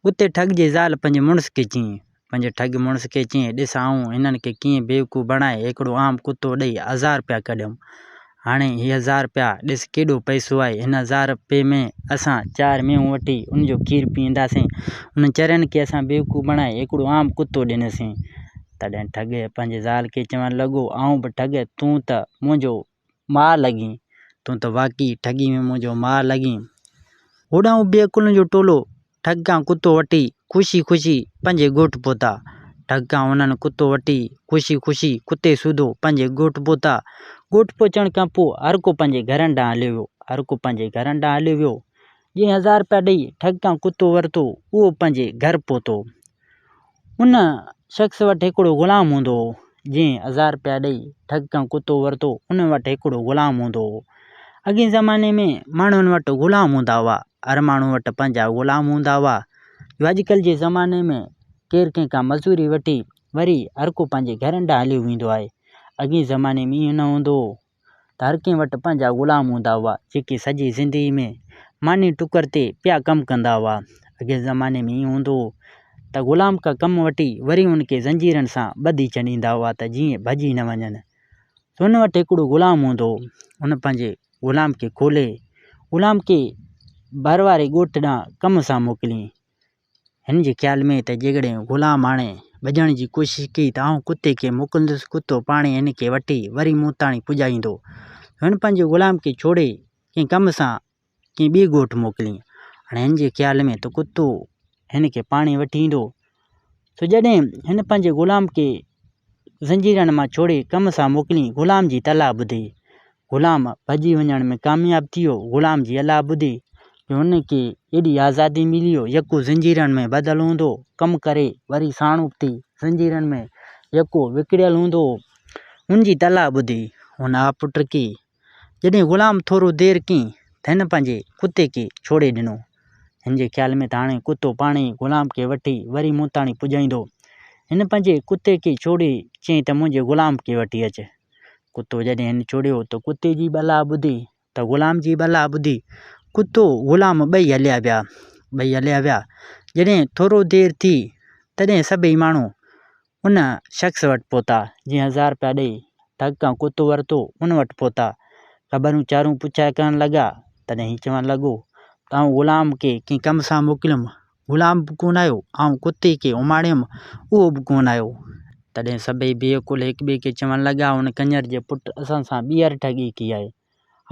اتي ٺڳ جي زال پنهنجي مڙس کي چيائين، پنهنجي ٺڳ مڙس کي چيائين، ڏس آئون هنن کي ڪيئن بيوقوف بڻائي هڪڙو عام ڪتو ڏئي هزار رپيا ڪڍيم، هاڻي هي هزار رپيا ڏس ڪيڏو پئسو آهي. هن هزار رپئي ۾ اسان چار مينهون وٺي ان جو کير پيئنداسين. انهن چرين کي اسان بيوقوف بڻائي هڪڙو عام ڪتو ڏنسين. تڏهن ٺڳ پنهنجي زال کي چوڻ لڳو، آئون به ٺڳ تون ته منهنجو ماء لڳين. تون ته واقعي ٺڳي ۾ منهنجو ماء لڳين. هوڏانهن بي عقلن جو ٽولو ڍڳ کان ڪتو وٺي خوشي خوشي پنهنجي ڳوٺ پهتا. ڍڳ کان هنن ڪتو وٺي خوشي خوشي ڪتي سوڌو پنهنجي ڳوٺ پهتا. ڳوٺ پهچڻ کان پوء هر ڪو پنهنجي گهرن ڏانهن هليو ويو. هر ڪو پنهنجي گهرن ڏانهن هليو ويو. جنهن هزار رپيا ڏئي ڍڳ کان ڪتو ورتو اهو پنهنجي گهر پهتو. ان شخص وٽ هڪڙو غلام هوندو هو. جنهن هزار رپيا ڏئي ڍڳ کان ڪتو ورتو ان وٽ هڪڙو غلام هوندو هو. اڳئين زماني ۾ ماڻهن وٽ غلام هوندا هئا. هر ماڻهو وٽ پنهنجا غلام هوندا هئا جو اڄڪلهه جي زماني ۾ ڪير ڪنهن کان مزوري وٺي وري هر ڪو پنهنجي گهرن ڏانهن هليو ويندو آهي اڳئين زماني ۾ ائين نه هوندو هو ته هر ڪنهن وٽ پنهنجا غلام هوندا هئا جيڪي سڄي زندگي ۾ ماني ٽڪر تي پيا ڪم ڪندا هئا اڳئين زماني ۾ ائين هوندو هو ته غلام کان ڪم وٺي وري ان کي زنجيرن سان ٻڌي ڇڏيندا هئا ته جيئن ڀڄي نه وڃن سو ان وٽ هڪڙو غلام هوندو هو ان پنهنجي غلام کي کولي غلام کي ڀر واري ڳوٺ ڏانهن ڪم سان موڪليائين. هن جي خيال ۾ ته جيڪڏهن غلام هاڻي ڀڄڻ جي ڪوشش ڪئي ته آئون ڪتي کي موڪلندس، ڪتو پاڻهي هن کي وٺي وري مون تاڻي پڄائيندو. هن پنهنجي غلام کي ڇوڙي ڪنهن ڪم سان ڪنهن ٻئي ڳوٺ موڪليائين. هاڻي هن جي خيال ۾ ته ڪتو هن کي پاڻهي وٺي ايندو سو جڏهن هن پنهنجي غلام کي زنجيرن مان ڇوڙي ڪم سان موڪليائين، غلام جي تلاء ٻڌي، غلام ڀڄي وڃڻ ۾ ڪامياب ٿي ويو. غلام جي الاء ٻڌي جو هن کي ايڏي آزادي ملي جو يڪو زنجيرن ۾ ٻڌل هوندو هو، ڪم ڪري وري ساڻ اٿي زنجيرن ۾ يڪو وڪڙيل هوندو هو. هن جي تلاء ٻڌي هن آپٽ کي جڏهن غلام ٿورو دير ڪين ته هن پنهنجي ڪتي کي ڇوڙي ڏنو. هن جي خيال ۾ ته هاڻي ڪتو پاڻ ئي غلام کي وٺي وري مون تاڻي پڄائيندو. هن پنهنجي ڪتي کي ڇوڙي چيائين ته منهنجي غلام کي وٺي اچ. ڪتو جڏهن هن ڇوڙيو ته ڪتي جي ٻلاء ٻڌي ته غلام جي ٻلاء ٻڌي ڪتو غلام ٻئي هليا ويا. ٻئي هليا ويا. جڏهن ٿورو دير ٿي تڏهن سڀئي ماڻهو ان شخص وٽ پهتا، جنهن هزار رپيا ڏيئي، ٺڳ کان ڪتو ورتو، ان وٽ پهتا، خبرون چارون پڇائي ڪرڻ لڳا، تڏهن هي چوڻ لڳو ته آئون غلام کي ڪنهن ڪم سان موڪليم، غلام به ڪونه آيو، آئون ڪتي کي اماڻيم، اهو به ڪونه آيو، تڏهن سڀئي بي عقل هڪٻئي کي چوڻ لڳا، ان ڪڃر جي پٽ اسان سان ٻيهر ٺڳي ڪئي آهي.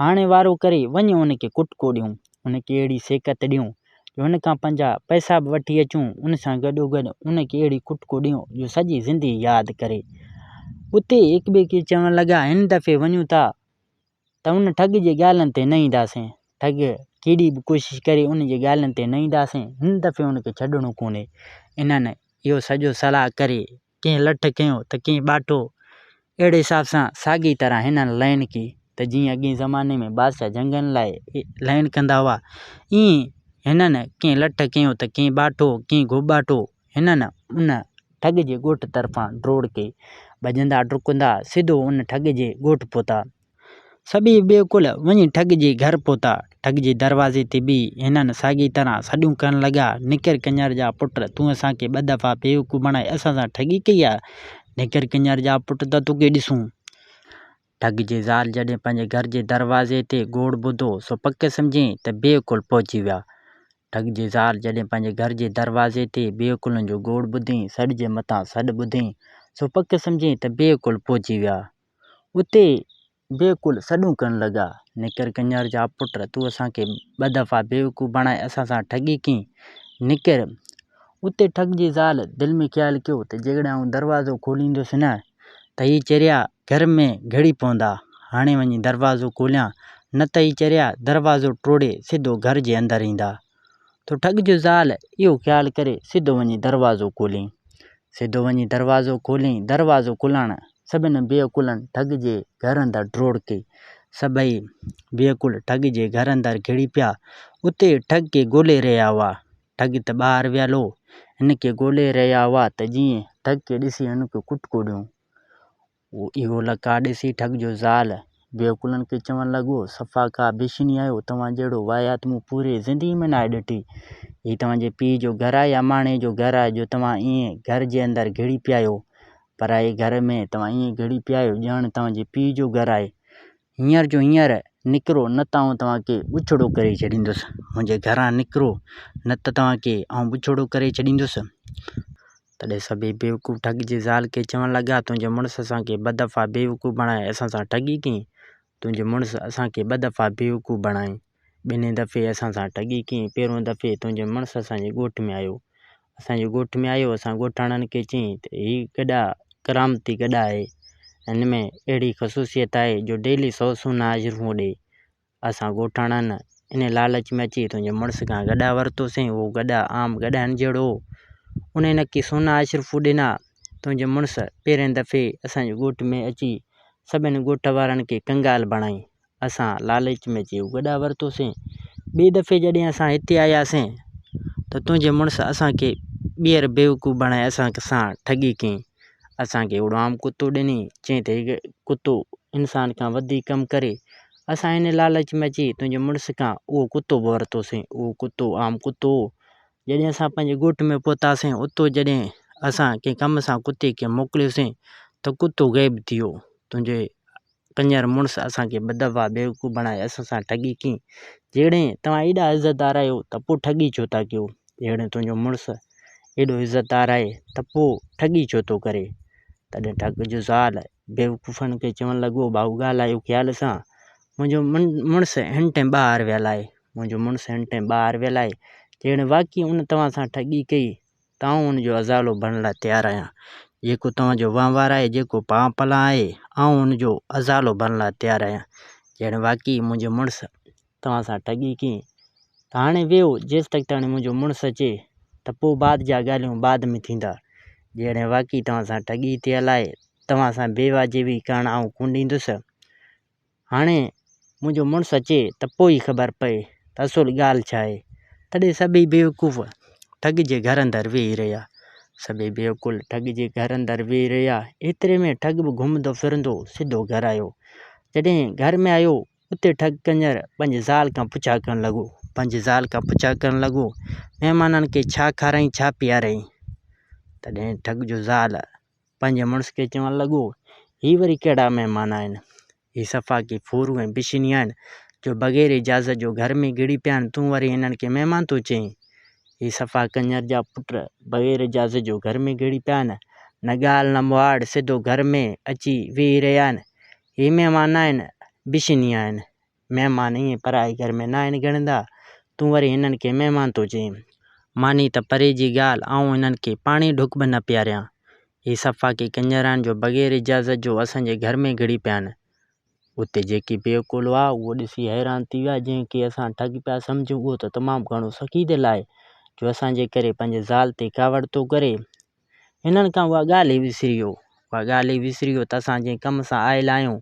هاڻي وارو ڪري وڃ ان کي ڪٽڪو ڏيون، ان کي اهڙي سيکت ڏيون جو هن کان پنهنجا پئسا به وٺي اچون، ان سان گڏوگڏ ان کي اهڙي ڪٽڪو ڏيون جو سڄي زندگي ياد ڪري. اتي هڪٻئي کي چوڻ لڳا، هن دفعي وڃون ٿا ته ان ٺڳ جي ڳالهين تي نه اينداسين، ٺڳ ڪيڏي به ڪوشش ڪري ان جي ڳالهين تي نه اينداسين، هن دفعي ان کي ڇڏڻو ڪونهي. انهن اهو سڄو صلاح ڪري ڪنهن لٺ کنيو ته ڪنهن ٻاٽو. اهڙي حساب سان ساڳي طرح هنن لئن ڪئي ته جيئن اڳئين زماني ۾ بادشاهه جنگن لاء لئن ڪندا هئا ائين هنن ڪنهن لٺ کنيو ته ڪنهن ٻاٽو ڪنهن گهوٻاٽو. هنن ان ٺڳ جي ڳوٺ طرفان ڊوڙ ڪئي. ڀڄندا ڊڪندا سڌو ان ٺڳ جي ڳوٺ پهتا. سڀيئي بيعقل وڃي ٺڳ جي گهر پهتا. ٺڳ جي دروازي تي بيهي هنن ساڳيء طرح سڏون ڪرڻ لڳا، نڪر ڪڃر جا پٽ، تون اسان کي ٻه دفعا بيوقوف بڻائي اسان سان ٺڳي ڪئي آهي. نڪر ڪڃر جا پٽ ته توکي ڏسون. ٺڳ جي زال جڏهن پنهنجي گهر جي دروازي تي گوڙ ٻڌو سو پڪ سمجهيائين ته بيعقل پهچي ويا. ٺڳ جي زال جڏهن پنهنجي گهر جي دروازي تي بيعقلن جو گوڙ ٻڌيائين سڏ جي مٿان سڏ ٻڌيائين سو پڪ سمجهيائين ته بيعقل پهچي ويا. اتي بيعقول سڏون ڪرڻ لڳا، نڪر ڪڃر جا پٽ، تون اسان کي ٻه دفعا بيوقوف بڻائي اسان سان ٺڳي ڪئين، نڪر! اتي ٺڳ جي زال دل ۾ خيال ڪيو ته جيڪڏهن آئون دروازو کوليندس نه ته هي چريا گهر ۾ گهڙي پوندا، هاڻي وڃي دروازو کوليان، نه ته هي چريا دروازو ٽوڙي سڌو گهر جي اندر ايندا. ٿو ٺڳ جو زال اهو خيال ڪري سڌو وڃي دروازو کولين. سڌو وڃي دروازو کولين. دروازو کلڻ سڀني بيعقولن ٺڳ جي گهر اندر ڊوڙ ڪئي. سڀئي بيعقول ٺڳ جي گهر اندر گهڙي پيا. اتي ٺڳ کي ڳولي رهيا هئا. ٺڳ ته ٻاهر ويل هو. هن کي ڳولي رهيا هئا ته جيئن ٺڳ کي ڏسي هن کي ڪٽڪو ڏيون. هو اهو لقاء ڏسي ٺڳ جو زال بيوقلن کي چوڻ لڳو، صفا ڪا بشني آهيو، توهان جهڙو واهيات مون پوريء زندگيء ۾ ناهي ڏٺي. هي توهان جي پيء جو گهر آهي يا ماڻهيء جو گهر آهي جو توهان ائين گهر جي اندر گهڙي پيا آهيو. پرائي گهر ۾ توهان ائين گهڙي پيا آهيو، ڄڻ توهان جي پيء جو گهر آهي. هينئر جو هينئر نڪرو نه ته آئون توهان کي ٻڇڙو ڪري ڇڏيندس. منهنجي گهران نڪرو نه ته توهان کي آئون ٻڇڙو ڪري ڇڏيندس. تڏهن سڀيئي بيوقوف ٺڳ جي زال کي چوڻ لڳا، تنهنجي مڙس اسان کي ٻه دفعا بيوقوف بڻائي اسان سان ٺڳي ڪئي. تنهنجي مڙس اسان کي ٻه دفعا بيوقوف بڻائي. ٻنهين دفعي اسان سان ٺڳي ڪئي. پهريون دفعي تنهنجي مڙس اسان جي ڳوٺ ۾ آيو. اسان جي ڳوٺ ۾ آيو اسان ڳوٺاڻن کي چيائين ته هي گڏا ڪرامتي گڏا آهي. هن ۾ اهڙي خصوصيت آهي جو ڊيلي سؤ سونا هاجرون هو ڏئي. اسان ڳوٺاڻن انهي لالچ ۾ اچي تنهنجي مڙس کان گڏا ورتوسين. اهو گڏا عام گڏهن جهڙو هو. انهي نڪي سونا هاجرون ڏنا. تنهنجي مڙس پهرين دفعي اسان جي ڳوٺ ۾ اچي سڀني ڳوٺ وارن کي ڪنگال بڻائين. اسان لالچ ۾ اچي گڏا ورتوسين. ٻئي دفعي جڏهن اسان هتي آياسين ته تنهنجي مڙس اسان کي ٻيهر بيوقوف بڻائي اسان سان ٺڳي ڪئي. اسان کي هڪڙو عام ڪتو ڏني. چئي ته هي ڪتو انسان کان وڌيڪ ڪم ڪري. اسان ان لالچ ۾ اچي تنهنجي مڙس کان اهو ڪتو به ورتوسين. اهو ڪتو عام ڪتو هو. جڏهن اسان پنهنجي ڳوٺ ۾ پهتاسين اتو جڏهن اسان ڪنهن ڪم سان ڪتي کي موڪليوسين ته ڪتو غائب ٿي ويو. تنهنجي ڪڃر مڙس اسان کي ٻه دفعا بيوقوف بڻائي اسان سان ٺڳي ڪئي. جهڙين توهان ايڏا عزتدار آهيو ته پوء ٺڳي ڇو ٿا ڪيو؟ جهڙين تنهنجو مڙس ايڏو عزتدار آهي ته پوء ٺڳي ڇو ٿو ڪري؟ تڏهن ٺڳ جو زال بيوقوفن کي چوڻ لڳو، ڀائو ڳالهايو خيال سان. منهنجو مڙس هن ٽين ٻاهر ويل آهي. منهنجو مڙس هن ٽين ٻاهر ويل آهي. جهڙين واقعي ان توهان سان ٺڳي ڪئي. آئون ان جو ازالو بڻڻ لاء تيار آهيان. جيڪو توهان جو وهنوار آهي، جيڪو پان پلان آهي، آئون ان جو ازالو بڻڻ لاء تيار آهيان. جيئن واقعي منهنجو مڙس توهان سان ٺڳي ڪئي ته هاڻي ويهو، جيستائين منهنجو مڙس اچي ته پوء بعد جا ڳالهيون بعد ۾ ٿيندا. جيئن واقعي توهان سان ٺڳي ٿيل آهي، توهان سان بي واجبي ڪرڻ آئون ڪونه ڏيندس. هاڻي منهنجو مڙس اچي ته پوء ئي خبر پئي ته اصل ڳالهه ڇا آهي. تڏهن سڀئي بيوقوف ٺڳ جي گهر اندر ويهي رهيا. سڀئي بيوقول ٺڳ جي گهر اندر ويهي رهيا. ايتري ۾ ٺڳ به گهمندو ڦرندو سڌو گهر آيو. جڏهن گهر ۾ آيو اتي ٺڳ ڪڃر پنهنجي زال کان پڇا ڪرڻ لڳو. پنهنجي زال کان پڇا ڪرڻ لڳو مهمانن کي ڇا کارائين ڇا پيارين. تڏهن ٺڳ جو زال پنهنجي مڙس کي چوڻ لڳو، هي وري ڪهڙا مهمان آهن؟ هي صفا ڪي ڦورون ۽ بشني آهن، جو بغير اجازت جو گهر ۾ گهڙي پيا آهن، تون وري هنن کي مهمان ٿو چئين؟ هي صفا ڪنڃر جا پٽ بغير اجازت جو گهر ۾ گهڙي پيا آهن، نه ڳالهه نه مهاڙ، سڌو گهر ۾ اچي ويهي رهيا آهن، هي مهمان ناهن، بشني آهن. مهمان ائين پرائي گهر ۾ ناهن ڳڻندا، تون وري هنن کي مهمان ٿو چئين. ماني ته پري جي ڳالهه، آئون هنن کي پاڻي ڍڪ به نه پياريان. هي صفا ڪي ڪڃران جو بغير اجازت جو اسان جي گهر ۾ گهڙي پيا آهن. اتي جيڪي بي عقول هئا، اهو ڏسي حيران ٿي ويا، جنهن کي اسان ٺڳ پيا سمجهون، اهو ته تمام گهڻو سخي دل آهي، جو اسان جي ڪري پنهنجي زال تي ڪاوڙ ٿو ڪري. هنن کان اها ڳالهه ئي وسري ويو. اها ڳالهه ئي وسري ويو ته اسان جنهن ڪم سان آيل آهيون،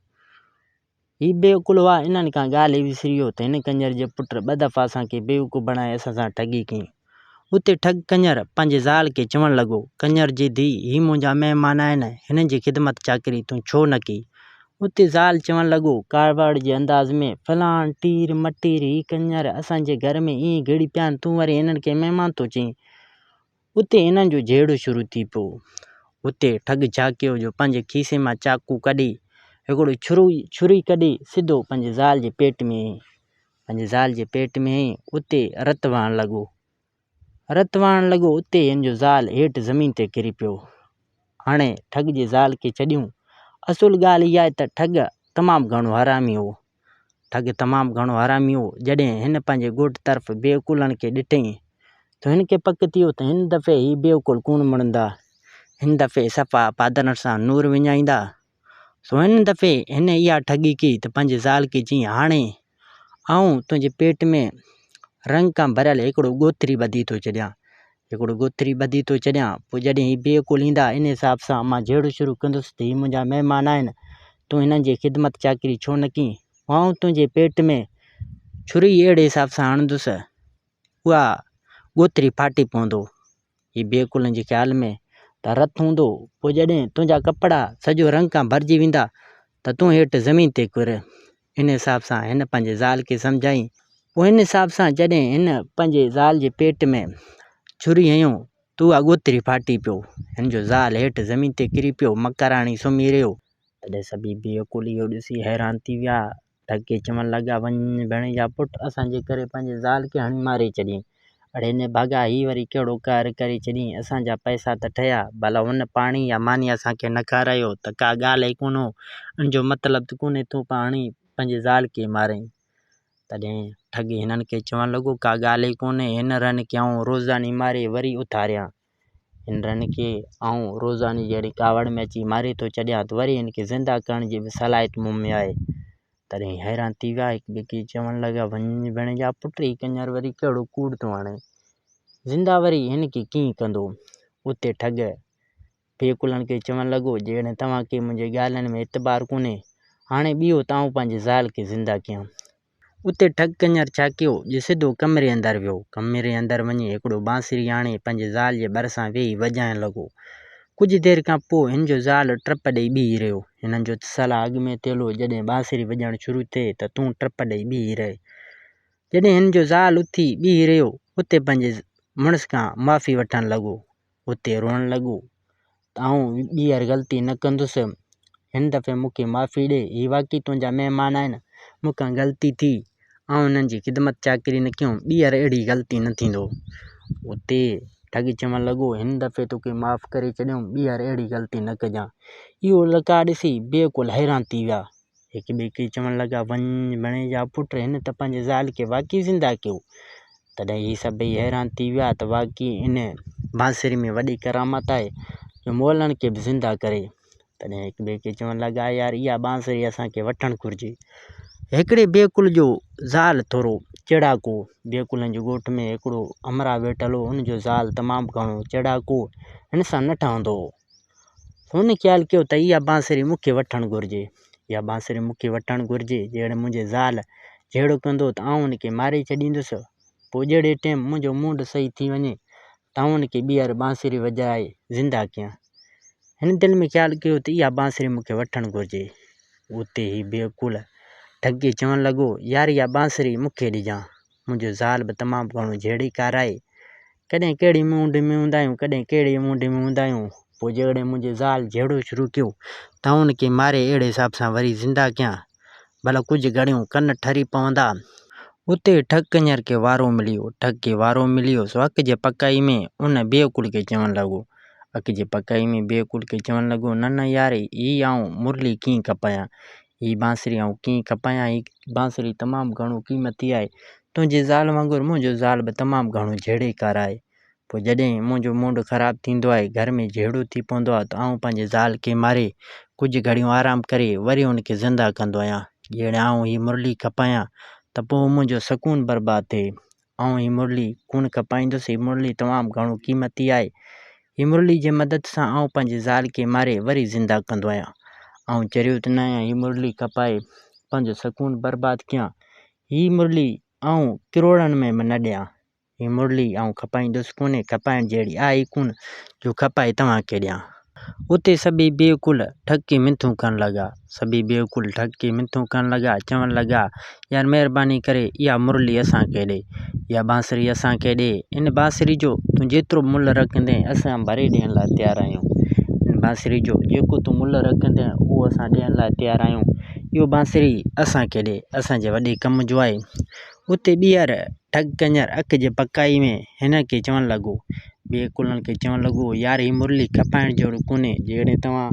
هي بيعقل هئا، انهن ڪا ڳالهه ئي وسري ويو ته هن ڪنجر جي پٽ ٻه دفعا اسان کي بيوقوف بڻائي اسان سان ٺڳي ڪئي. اتي ٺڳ ڪنجر پنهنجي زال کي چوڻ لڳو، ڪنجر جي ڌيء، هي منهنجا مهمان آهن، هنن جي خدمت چاڪري تون ڇو نه ڪئي؟ اتي زال چوڻ لڳو، ڪارواڙ جي انداز ۾، فلاڻ ٽير مٽير، هي ڪنجر اسان جي گهر ۾ ائين گهڙي پيا آهن، تون وري هنن کي مهمان ٿو چئين. اتي هنن جو جهيڙو شروع ٿي پيو. اتي ٺڳ ڇا ڪيو جو پنهنجي کيسي مان چاقو ڪڍي، هڪڙو ڇري ڪڍي سڌو پنهنجي زال جي پيٽ ۾ هنئي. پنهنجي زال جي پيٽ ۾ هنئي اتي رت وهڻ لڳو. رت وهڻ لڳو اتي هن جو زال هيٺ زمين تي ڪري پيو. هاڻي ٺڳ جي زال کي ڇڏيون. اصل ڳالهه اها آهي ته ٺڳ تمام گهڻو حرامي هو. ٺڳ تمام گهڻو حرامي هو. جڏهن هن پنهنجي ڳوٺ طرف بيعقولن کي ڏٺئين ته هن کي پڪ ٿيو ته هن دفعي هي بيعقول ڪونه مڙندا. هن دفعي صفا پادرن سان نور وڃائيندا. سو هن دفعي هن اها ٺڳي ڪئي ته پنهنجي زال کي چيائين، هاڻي آئون تنهنجي پيٽ ۾ رنگ کان ڀريل هڪڙو ڳوٿري ٻڌي ٿو ڇڏيان، هڪڙو گوٿري ٻڌي ٿو چڏيان، پوء جڏهن هي بيعقول ايندا، ان حساب سان مان جهيڙو شروع ڪندس ته هي منهنجا مهمان آهن، تون هنن جي خدمت چاڪري ڇو نه ڪين؟ پوء آئون تنهنجي پيٽ ۾ ڇري اهڙي حساب سان هڻندس، اها گوٿري ڦاٽي پوندو. هي بيعقولن جي خيال ۾ ته رت هوندو، پوء جڏهن تنهنجا ڪپڙا سڄو رنگ کان ڀرجي ويندا ته تون هيٺ زمين تي ڪر. هن حساب سان هن پنهنجي زال کي سمجهايائين. پوء هن حساب سان جڏهن هن پنهنجي زال جي پيٽ ۾ ڇري هنيو ته اهو اڳوتري ڦاٽي پيو. هن جو زال هيٺ زمين تي ڪري پيو. مڪراڻي سمهي رهيو. تڏهن سڀيئي بيعقول اهو ڏسي حيران ٿي ويا. ڌڪي چوڻ لڳا، وڃ وڃ ڀيڻي جا پٽ، اسان جي ڪري پنهنجي زال کي هڻي ماري ڇڏيائين. اڙي ني ڀاڳا، هي وري ڪهڙو قهر ڪري ڇڏيئين، اسان جا پئسا ته ٺهيا، ڀلا هن پاڻي يا ماني اسان کي نه کارايو ته ڪا ڳالهه ئي ڪونه، ان جو مطلب ته ڪونهي تون پاڻي پنهنجي زال کي مارين. تڏهن ٺڳي هنن کي چوڻ لڳو، ڪا ڳالهه ئي ڪونهي، هن رن کي آئون روزاني ماري وري اٿاريان. هنرن کي آئون روزاني جهڙي ڪاوڙ ۾ اچي ماري ٿو ڇڏيان ته وري هن کي زنده ڪرڻ جي به صلاحيت مون ۾ آهي. تڏهن حيران ٿي ويا هڪ ٻئي کي چوڻ لڳا، وڃ ويڻ جا پٽ هي ڪڃر وري ڪهڙو ڪوڙ ٿو هڻي. زنده وري هن کي ڪيئن ڪندو. اتي ٺڳ پيڪلن کي چوڻ لڳو، جيڪڏهن توهان کي منهنجي ڳالهين ۾ اعتبار ڪونهي، هاڻي بيهو ته آئون پنهنجي زال کي زنده ڪيان. اتي ٺڳ ڪڃر ڇا ڪيو جو سڌو ڪمري اندر ويو. ڪمري اندر وڃي هڪڙو بانسري آڻي پنهنجي زال جي ڀرسان ويهي وڄائڻ لڳو. ڪجهه دير کان پوء هن جو زال ٽپ ڏئي بيهي رهيو. هنن جو ته صلاح اڳ ۾ ٿيل هو جڏهن بانسري وڄڻ شروع ٿئي ته تون ٽپ ڏئي بيهي رهه. جڏهن هن جو زال اٿي بيهي رهيو اتي پنهنجي مڙس کان معافي وٺڻ لڳو. اتي روئڻ لڳو. ته آئون ٻيهر غلطي نه ڪندس. هن دفعي مون کي معافي ڏي. هي واقعي تنهنجا مهمان آهن. مون کان غلطي ٿي. آئون هنن جي خدمت چاڪري نه ڪيم. ٻيهر اهڙي غلطي نه ٿيندو. اتي ٺڳ چوڻ لڳو، هن دفعي توکي معاف ڪري ڇڏيم. ٻيهر اهڙي غلطي نه ڪجان. اهو لقاء ڏسي بيعقل حيران ٿي ويا. هڪ ٻئي کي چوڻ لڳا، وڃ، بڻي جا پٽ، هن ته پنهنجي زال کي واقعي زنده ڪيو. تڏهن هي سڀئي حيران ٿي ويا ته واقعي ان بانسري ۾ وڏي ڪرامت آهي جو مئلن کي به زنده ڪري. تڏهن هڪ ٻئي کي چوڻ لڳا، يار اها بانسري اسان کي وٺڻ گهرجي. هڪڙي بيڪل جو زال ٿورو چيڙاڪو، بيڪلن جي ڳوٺ ۾ هڪڙو همراهه ويٺل هو، ان جو زال تمام گهڻو چيڙاڪو هو، هن سان نه ٺهندو هو. هن خيال ڪيو ته اها بانسري مون کي وٺڻ گهرجي. اها بانسري مون کي وٺڻ گهرجي. جيڪڏهن منهنجي زال جهيڙو ڪندو ته آئون ان کي ماري ڇڏيندس. پوء جهڙي ٽيم منهنجو موڊ صحيح ٿي وڃي ته آئون ان کي ٻيهر بانسري وڄائي زنده ڪيان. هن دل ۾ خيال ڪيو ته اها بانسري مون کي وٺڻ گهرجي. اتي هي بي عقول ڍڳي چوڻ لڳو، يار اها بانسري مون کي ڏجانء. منهنجي زال به تمام گهڻو جهيڙي کارائي ڪڏهن ڪهڙي موڊ ۾ هوندا آهيون ڪڏهن ڪهڙي موڊ ۾ هوندا آهيون پوء جيڪڏهن منهنجي زال جهيڙو شروع ڪيو ته آئون ان کي ماري اهڙي حساب سان وري زنده ڪيان ڀلا ڪجهه گهڙيون ڪن ٺري پوندا. اتي ئي ٺڪ ڪڃر کي وارو مليو ٺڪ کي وارو مليو سو اک جي پڪائي ۾ ان بي عقول کي چوڻ لڳو اک جي پڪائي ۾ بي عقول کي چوڻ لڳو نه نه ياري هي آئون مرلي ڪيئن ڪپايان هي بانسري آئون ڪيئن کپايان هي بانسري تمام گهڻو قيمتي آهي تنهنجي زال وانگر منهنجو زال به تمام گهڻو جهيڙيڪار آهي پوء جڏهن منهنجو موڊ خراب ٿيندو آهي گهر ۾ جهيڙو ٿي پوندو آهي ته آئون پنهنجي زال کي ماري ڪجهه گهڙيون آرام ڪري وري ان کي زنده ڪندو آهيان جيئن آئون هي مرلي کپايان ته پوء منهنجو سڪون برباد ٿئي آئون هي مرلي ڪونه کپائيندس، هي مرلي تمام گهڻو قيمتي آهي. هي مرلي جي مدد سان آئون پنهنجي زال کي ماري وري زنده ڪندو آهيان. آئون چريو ته نه آهيان هي مرلي کپائي پنهنجو سڪون برباد ڪيان. هي مرلي آئون ڪروڙن ۾ به نه ڏيان. هي مرلي آئون کپائيندس ڪونه، کپائڻ جهڙي آهي ئي ڪونه جو کپائي توهان کي ڏيان. اتي سڀيئي بيعقول ٺڪي منٿون ڪرڻ لڳا. سڀيئي بيعقول ٺڪي منٿون ڪرڻ لڳا ۽ چوڻ لڳا، يار مهرباني ڪري اها مرلي اسان کي ڏي. اها بانسري اسان کي ڏي. ان بانسري جو تون جيترو ملهه رکندين اسان ڀري ڏيڻ لاء تيار آهيون. ان بانسري جو جيڪو تون ملهه رکندين اهو اسان ڏيڻ لاء تيار آهيون. اها بانسري اسان کي ڏي. اسان جي وڏي ڪم جو آهي. اتي ٻيهر ڍڳ ڪڃر اک جي پڪائي ۾ هنن کي چوڻ لڳو، ٻيهر ڪلهن کي چوڻ لڳو، يار هي مرلي کپائڻ جهڙو ڪونهي، جيڪڏهن توهان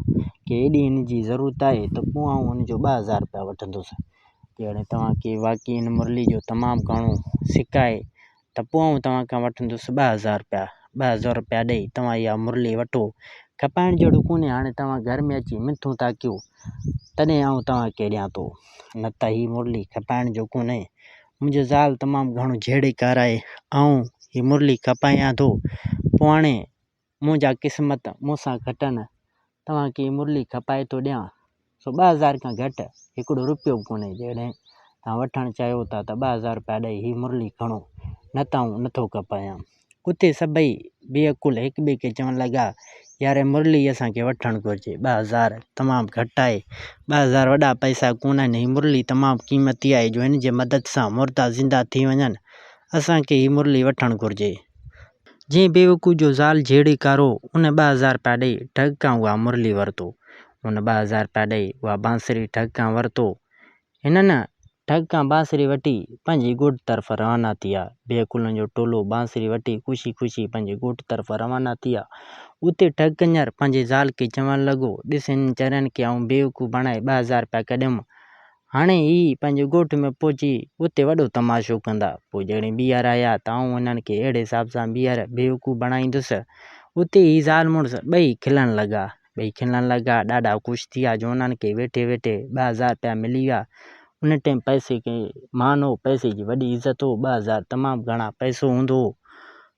کي ايڏي هن جي ضرورت آهي ته پوء آئون هن جو ٻه هزار رپيا وٺندس. جيڪڏهن توهان کي واقعي هن مرلي جو تمام گهڻو سڪ آهي ته پوء آئون توهان کان وٺندس ٻه هزار رپيا. ٻه هزار روپيا ڏئي توهان اها مرلي وٺو. کپائڻ جهڙو ڪونهي. هاڻي توهان گهر ۾ اچي منٿون ٿا ڪيو، تڏهن آئون توهان کي ڏيان ٿو. نه ته هي مرلي کپائڻ جو ڪونهي. منهنجي زال تمام گهڻو جهيڙي ڪارائي آئون هي مرلي کپايان ٿو. پوء هاڻي منهنجا قسمت مون سان کٽن توهان کي مرلي کپائي ٿو ڏيان، سو ٻه هزار کان گهٽ هڪڙو رپيو به ڪونهي، جيڪڏهن توهان وٺڻ چاهيو ٿا ته ٻه هزار رپيا ڏئي هي مرلي کڻو، نه ته آئون نٿو کپايان. اتي سڀئي بي عقل هڪٻئي کي چوڻ لڳا، ياري مرلي اسان کي وٺڻ گهرجي، ٻه هزار تمام گهٽ آهي، ٻه هزار وڏا پئسا ڪونه آهن، هي مرلي تمام قيمتي آهي، جو هن جي مدد سان مردا زنده ٿي وڃن، اسان کي هي مرلي وٺڻ گهرجي. جنهن بيوقوف جو زال جهيڙي ڪارو ان ٻه هزار رپيا ڏئي ڍڳ کان اها مرلي ورتو ان ٻه هزار رپيا ڏئي اها بانسري ڍڳ کان ورتو هنن ڍڳ کان بانسري وٺي پنهنجي ڳوٺ طرف روانا ٿيا بيوقوفن جو ٽولو بانسري وٺي خوشي خوشي پنهنجي ڳوٺ طرف روانا ٿيا اتي ڍڳ ڪنڃر پنهنجي زال کي چوڻ لڳو ڏس هنن چرين کي آئون بيوقوف بڻائي ٻه هزار رپيا ڪڍيم هاڻي هي پنهنجي ڳوٺ ۾ پهچي اتي وڏو تماشو ڪندا. پوء جڏهن ٻيهر آيا ته آئون انهن کي اهڙي حساب سان ٻيهر بيوقوف بڻائيندس. اتي هي زال مڙس ٻئي کلڻ لڳا. ٻئي کلڻ لڳا. ڏاڍا خوش ٿيا جو انهن کي ويٺي ويٺي ٻه هزار رپيا ملي ويا. ان ٽيم پئسي کي مان هو. پئسي جي وڏي عزت هو. ٻه هزار تمام گهڻا پئسو هوندو هو.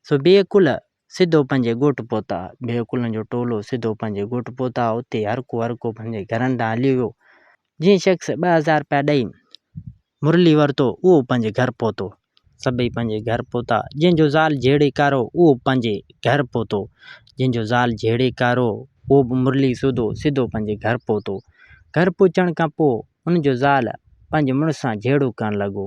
سو بيعقل سڌو پنهنجي ڳوٺ پهتا. بيهه ڪلن جو ٽولو سڌو پنهنجي ڳوٺ پهتا. اتي هرڪو هرڪو پنهنجي گهرن ڏانهن هليو ويو. جنهن شخص ٻه هزار رپيا ڏئي مرلي ورتو اهو پنهنجي گهر پهتو. سڀئي پنهنجي گهر پهتا. جنهن جو زال جهيڙي ڪارو اهو به پنهنجي گهر پهتو. جنهن جو زال جهيڙي ڪارو اهو به مرلي سوڌو سڌو پنهنجي گهر پهتو. گهر پهچڻ کان پوء ان جو زال پنهنجي مڙس سان جهيڙو ڪرڻ لڳو.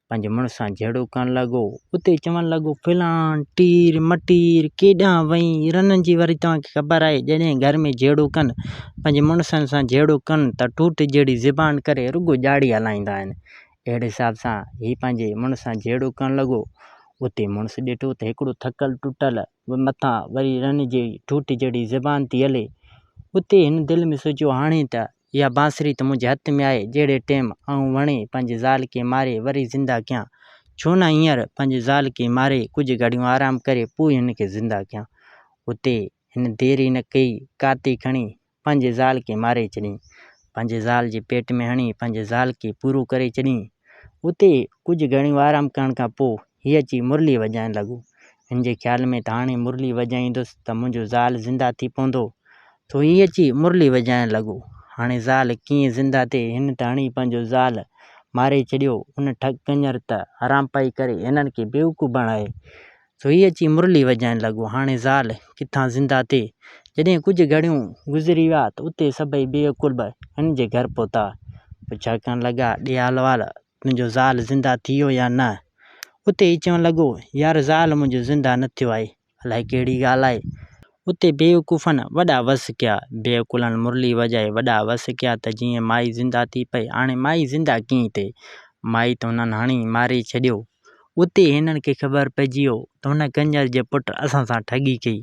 پنهنجي مڙس سان جهيڙو ڪرڻ لڳو، اتي چوڻ لڳو، فلان ٽير مٽير ڪيڏانهن وئين، رنن جي وري توهان کي خبر آهي، جڏهن گهر ۾ جهيڙو ڪن، پنهنجي مڙسن سان جهيڙو ڪن ته ٺوٺ جهڙي زبان ڪري رڳو ڄاڙي هلائيندا آهن. اهڙي حساب سان هي پنهنجي مڙس سان جهيڙو ڪرڻ لڳو، اتي مڙس ڏٺو ته هڪڙو ٿڪل ٽٽل به مٿان وري رن جي ٺوٺ جهڙي زبان ٿي هلي، اتي هن دل ۾ سوچيو هاڻي ته اها بانسري ته منهنجي هٿ ۾ آهي، جهڙي ٽيم آئون وڻي پنهنجي زال کي ماري وري زنده ڪيان، ڇو نه هينئر پنهنجي زال کي ماري ڪجهه گهڙيون آرام ڪري پوء هن کي زنده ڪيان. اتي هن دير ئي نه ڪئي، ڪاتي کڻي پنهنجي زال کي ماري ڇڏيائين. پنهنجي زال جي پيٽ ۾ هڻي پنهنجي زال کي پورو ڪري ڇڏيائين. اتي ڪجهه گهڙيون آرام ڪرڻ کان پوء هي اچي مرلي وڄائڻ لڳو. هن جي خيال ۾ ته هاڻي مرلي وڄائيندس ته منهنجو زال زنده ٿي پوندو. سو هي اچي مرلي وڄائڻ لڳو. هاڻي زال ڪيئن زنده ٿئي؟ هن ته هڻي پنهنجو زال ماري ڇڏيو. ان ٺڳ ڪڃر ته حرامپائي ڪري هنن کي بيوقوف بڻائي. سو هي اچي مرلي وڄائڻ لڳو. هاڻي زال ڪٿان زنده ٿئي؟ جڏهن ڪجهه گهڙيون گذري ويا ته اتي سڀئي بيعقل به هن جي گهر پهتا. پڇا ڪرڻ لڳا، ڏيهالوال تنهنجو زال زنده ٿيو يا نه؟ اتي هي چوڻ لڳو، يار زال منهنجو زنده نه ٿيو آهي، الائي ڪهڙي ڳالهه آهي؟ اتي بيوقوفن وڏا وس ڪيا، بيعقلن مرلي وڄائي وڏا وس ڪيا ته جيئن مائي زنده ٿي پئي، هاڻي مائي زنده ڪيئن ٿئي؟ مائي ته هنن هڻي ماري ڇڏيو. اتي هنن کي خبر پئجي ويو ته هن ڪنجر جي پٽ اسان سان ٺڳي ڪئي،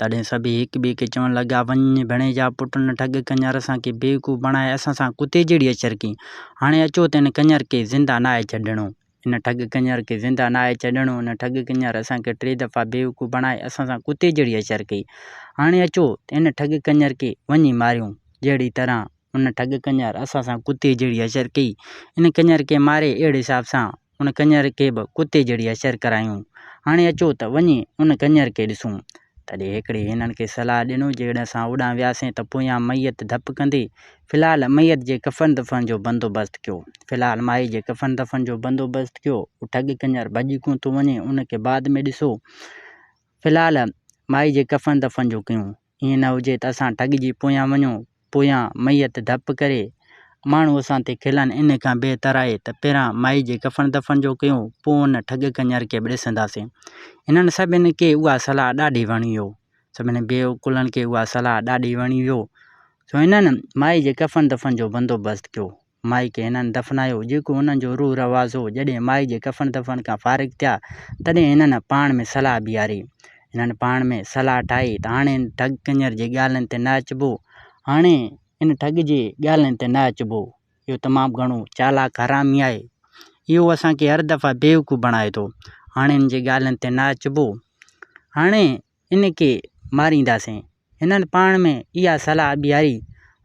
تڏهن سڀيئي هڪ ٻئي کي چوڻ لڳا، وڃ ڀڻي جا پٽ نه ٺڳ ڪنڃر اسان کي بيوقوف بڻائي اسان سان ڪتي جهڙي اچر ڪئين. هاڻي اچو ته ان ڪنڃر کي زنده ناهي ڇڏڻو. ان ٺڳ ڪنڃر کي زنده ناهي ڇڏڻو. ان ٺڳ ڪنڃر اسان کي ٽي دفعا بيوقوف بڻائي اسان سان ڪتي جهڙي اچر ڪئي. هاڻي اچو ته ان ٺڳ ڪنڃر کي وڃي ماريون. جهڙي طرح ان ٺڳ ڪنڃر اسان سان ڪتي جهڙي اچر ڪئي. ان ڪنڃر کي ماري اهڙي حساب سان ان ڪڃر کي به ڪتي جهڙي حشر ڪرايون. هاڻي اچو ته وڃي ان ڪڃر کي ڏسون. تڏهن هڪڙي هنن کي صلاح ڏنو جيڪڏهن اسان اوڏانهن وياسين ته پويان ميت ڌپ ڪندي. في الحال ميت جي ڪفن دفن جو بندوبست ڪيو. في الحال مائي جي ڪفن دفن جو بندوبست ڪيو. اهو ٺڳ ڪڃر ڀڄي ڪونه ٿو وڃي. ان کي بعد ۾ ڏسو. في الحال مائي جي ڪفن دفن جو ڪيون. ائين نه هجي ته اسان ٺڳ جي پويان وڃون، پويان ميت ڌپ ڪري، ماڻهو اسان تي کلن، ان کان بهتر آهي ته پهريان مائي جي ڪفڻ دفن جو ڪيون، پوء ان ٺڳ ڪڃر کي به ڏسنداسين. هنن سڀني کي اها صلاح ڏاڍي وڻي هيو. سڀني بيعقولن کي اها صلاح ڏاڍي وڻي هيو، سو هنن مائي جي ڪفڻ دفن جو بندوبست ڪيو. مائي کي هنن دفنايو، جيڪو هنن جو روح رواز هو. جڏهن مائي جي ڪفن دفن کان فارغ ٿيا، تڏهن هنن پاڻ ۾ صلاح بيهاري. هنن پاڻ ۾ صلاح ٺاهي ته هاڻي هن ٺڳ ڪڃر جي ڳالهين تي نه اچبو. هاڻي ان ٺڳ جي ڳالهين تي نه اچبو. اهو تمام گهڻو چالاڪ حرامي آهي. اهو اسان کي هر دفعي بيوقوف بڻائي ٿو. هاڻي هن جي ڳالهين تي نه اچبو. هاڻي هن کي مارينداسين. هنن پاڻ ۾ اها صلاح ٻيهاري.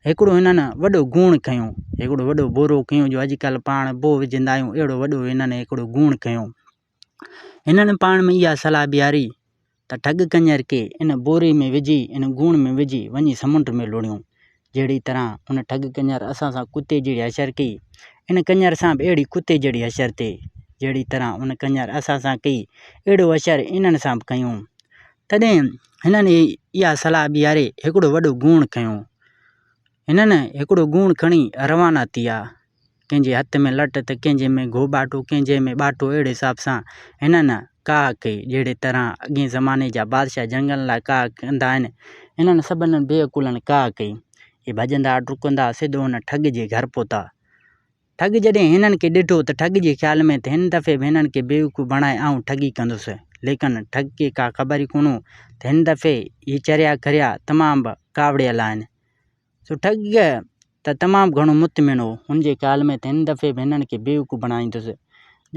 هڪڙو هنن وڏو گوڻ کنيو. هڪڙو وڏو بورو کنيو جو اڄڪلهه پاڻ بوء وجهندا آهيون، اهڙو وڏو هنن هڪڙو گوڻ کنيو. هنن پاڻ ۾ اها صلاح ٻيهاري ته ٺڳ ڪڃر کي ان بوري ۾ وجهي، ان گوڻ ۾ وجهي، وڃي سمنڊ ۾ لوڙيون. جهڙي طرح ان ٺڳ ڪڃر اسان سان ڪتي جهڙي حشر ڪئي، ان ڪڃر سان به اهڙي ڪتي جهڙي حشر ٿئي، جهڙي طرح ان ڪڃر اسان سان ڪئي، اهڙو حشر انهن سان به ڪيون. تڏهن هنن اها صلاح ٻيهاري هڪڙو وڏو ڳوڻ کنيو. هنن هڪڙو ڳوڻ کڻي روانا ٿيا، ڪنهن جي هٿ ۾ لٽ ته ڪنهن جي ۾ گهو ٻاٽو ڪنهن جي ۾ ٻاٽو اهڙي حساب سان هنن ڪاهه ڪئي جهڙي طرح اڳئين زماني جا بادشاهه جنگن لاء ڪاهه ڪندا آهن انهن سڀن بيعقولن ڪاهه ڪئي اهي ڀڄندا ڊڪندا سڌو ان ٺڳ جي گهر پهتا ٺڳ جڏهن هنن کي ڏٺو ته ٺڳ جي خيال ۾ ته هن دفعي به هنن کي بيوقوف بڻائي آئون ٺڳي ڪندس ليڪن ٺڳ کي ڪا خبر ئي ڪونه ته هن دفعي هي چريا کريا تمام به ڪاوڙيل آهن سٺگ ته تمام گهڻو مطمئن هو. هن جي خيال ۾ ته هن دفعي به هنن کي بيوقوف بڻائيندس.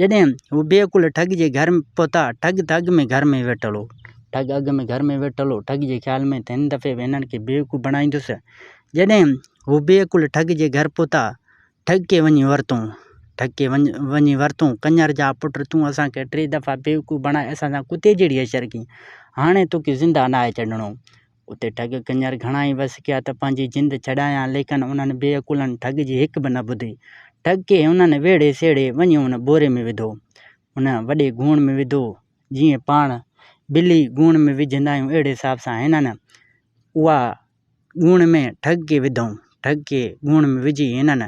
جڏهن هو بي عقل ٺڳ جي گهر پهتا، ٺڳ ته اڳ ۾ گهر ۾ ويٺل هو. ٺڳ اڳ ۾ گهر ۾ ويٺل هو. ٺڳ جي خيال ۾ ته هن دفعي به هنن کي بيوقوف بڻائيندس. جڏهن هو بي عقل ٺڳ جي گهر پهتا، ٺڳ کي وڃي ورتئون. ٺڳ کي وڃي ورتئون، ڪڃر جا پٽ تون اسان کي ٽي دفعا بيوقوف بڻائي اسان سان ڪتي جهڙي عشر ڪئين. هاڻي توکي زنده ناهي ڇڏڻو. اتي ٺڳ ڪڃر گهڻائي وس ڪيا ته پنهنجي جند ڇڏايان ليڪن انهن بي عقلن ٺڳ جي هڪ به نه ٻڌي. ٺڳ کي انهن ويڙهي سيڙهي وڃي ان ٻوري ۾ وڌو. ان وڏي گوڻ ۾ وڌو. جيئن پاڻ بلي گوڻ ۾ وجهندا آهيون اهڙي حساب سان هنن اها گوڻ ۾ ٺڳ کي وڌائون. ٺڳ کي گوڻ ۾ وجهي هنن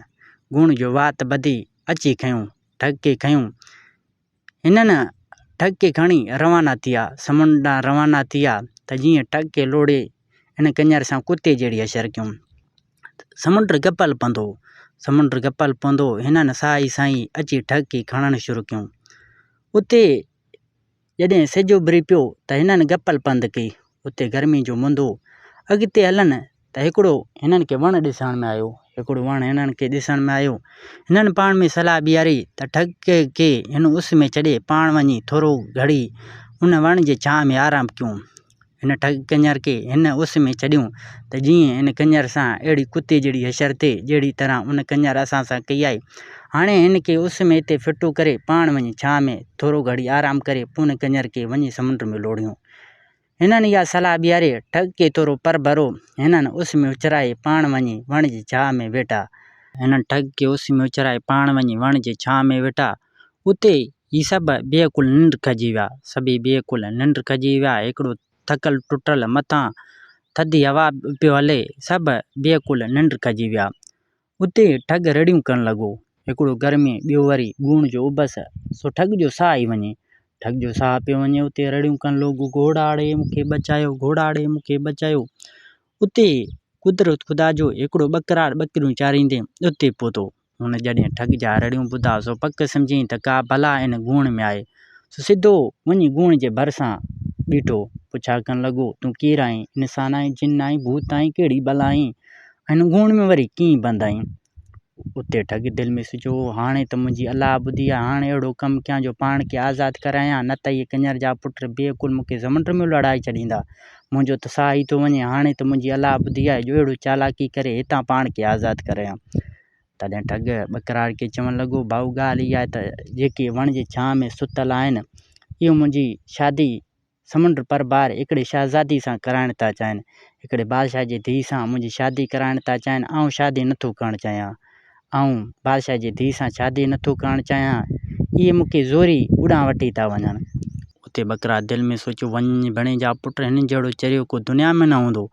گوڻ جو وات ٻڌي اچي کنيو. ٺڳ کي کنيو. هنن ٽھڪ کي کڻي روانا ٿيا. سمنڊ ڏانهن روانا ٿيا ته جيئن ٽھڪ کي لوڙهي ان ڪڃر سان ڪتي جهڙي حشر ڪيم. سمنڊ گپل پوندو. سمنڊ گپل پوندو. هنن ساهه ئي ساهه اچي ٽھڪ کي کڻڻ شروع ڪيم. اتي جڏهن سج اڀري پيو ته هنن گپل پنڌ ڪئي. اتي گرمي جو مندو. اڳتي هلن ته هڪڙو هنن کي وڻ ڏسڻ ۾ آيو. هڪڙو وڻ هنن کي ڏسڻ ۾ آيو. هنن پاڻ ۾ صلاح ٻيهاري ته ٺڳ کي هن اس ۾ ڇڏي پاڻ وڃي ٿورو گهڙي ان وڻ جي ڇانء ۾ آرام ڪيون. هن ٺڳ ڪڃر کي هن اس ۾ ڇڏيون ته جيئن ان ڪڃر سان اهڙي ڪتي جهڙي حشر ٿئي جهڙي طرح ان ڪڃر اسان سان ڪئي آهي. هاڻي هن کي اس ۾ هتي ڦٽو ڪري پاڻ وڃي ڇانء ۾ ٿورو گهڙي آرام ڪري پون ڪڃر کي وڃي سمنڊ ۾ لوڙهيون. هنن اها صلاح ٻيهاري ٺڳ ڪئي ٿورو پر ڀرو هنن اس ۾ اڇرائي پاڻ وڃي وڻ جي ڇانء ۾ ويٺا. هنن ٺڳ کي اس ۾ اڇرائي پاڻ وڃي وڻ جي ڇانء ۾ ويٺا. اتي هي سڀ بيعقل ننڊ کڄي ويا. سڀيئي بيعقل ننڊ کڄي ويا. هڪڙو ٿڪل ٽٽل مٿان ٿڌي هوا پيو هلي. سڀ بيعقل ننڊ کڄي ويا. اتي ٺڳ رڙيون ڪرڻ لڳو. هڪڙو گرمي ٻيو وري ڳوڻ جو اڀس، سو ٺڳ جو ساهه ئي وڃي. ٺڳ جو ساهه پيو وڃي اتي رڙيون ڪرڻ لوڳو گهوڙاڙي مون کي بچايو، گهوڙاڙي مون کي بچايو. اتي قدرت خدا جو هڪڙو ٻڪراڙ ٻڪريون چاريندي اتي پهتو. هن جڏهن ٺڳ جا رڙيون ٻڌا سو پڪ سمجهيائين ته ڪا بلا ان ڳوڻ ۾ آهي. سو سڌو وڃي ڳوڻ جي ڀرسان بيٺو. پڇا ڪرڻ لڳو، تون ڪير آهين؟ انسان آهين، جن آهين، ڀوت آهين، ڪهڙي بلا آهين؟ هن گهوڙ ۾ وري ڪيئن بندايون. اتي ٺڳ دل ۾ سوچيو هو، هاڻي ته منهنجي الا ٻڌي آهي، هاڻي اهڙو ڪم ڪيان جو پاڻ کي آزاد ڪرايان، نه ته اهي ڪڃر جا پٽ بي عقل مون کي سمنڊ ۾ لڙهائي ڇڏيندا. منهنجو ته ساهه ئي ٿو وڃي، هاڻي ته منهنجي الا ٻڌي آهي جو اهڙو چالاڪي ڪري هتان پاڻ کي آزاد ڪرايان. تڏهن ٺڳ ٻڪراڙ کي چوڻ لڳو، ڀائو ڳالهه اها آهي ته جيڪي وڻ جي ڇانهه ۾ ستل آهن، اهي منهنجي شادي سمنڊ پر بار هڪڙي شهزادي سان ڪرائڻ ٿا چاهين. هڪڙي بادشاهه جي ڌيء سان منهنجي شادي ڪرائڻ ٿا چاهين. آئون شادي نه ٿو ڪرڻ چاهيان. آئون بادشاهه جي ڌيء سان شادي نه ٿو ڪرڻ چاهيان. اهي مون کي زوري اڏانهن وٺي ٿا وڃن. اتي ٻڪرا دل ۾ سوچيو، وڃ ڀڻي جا پٽ، هنن جهڙو چريو ڪو دنيا ۾ نه هوندو.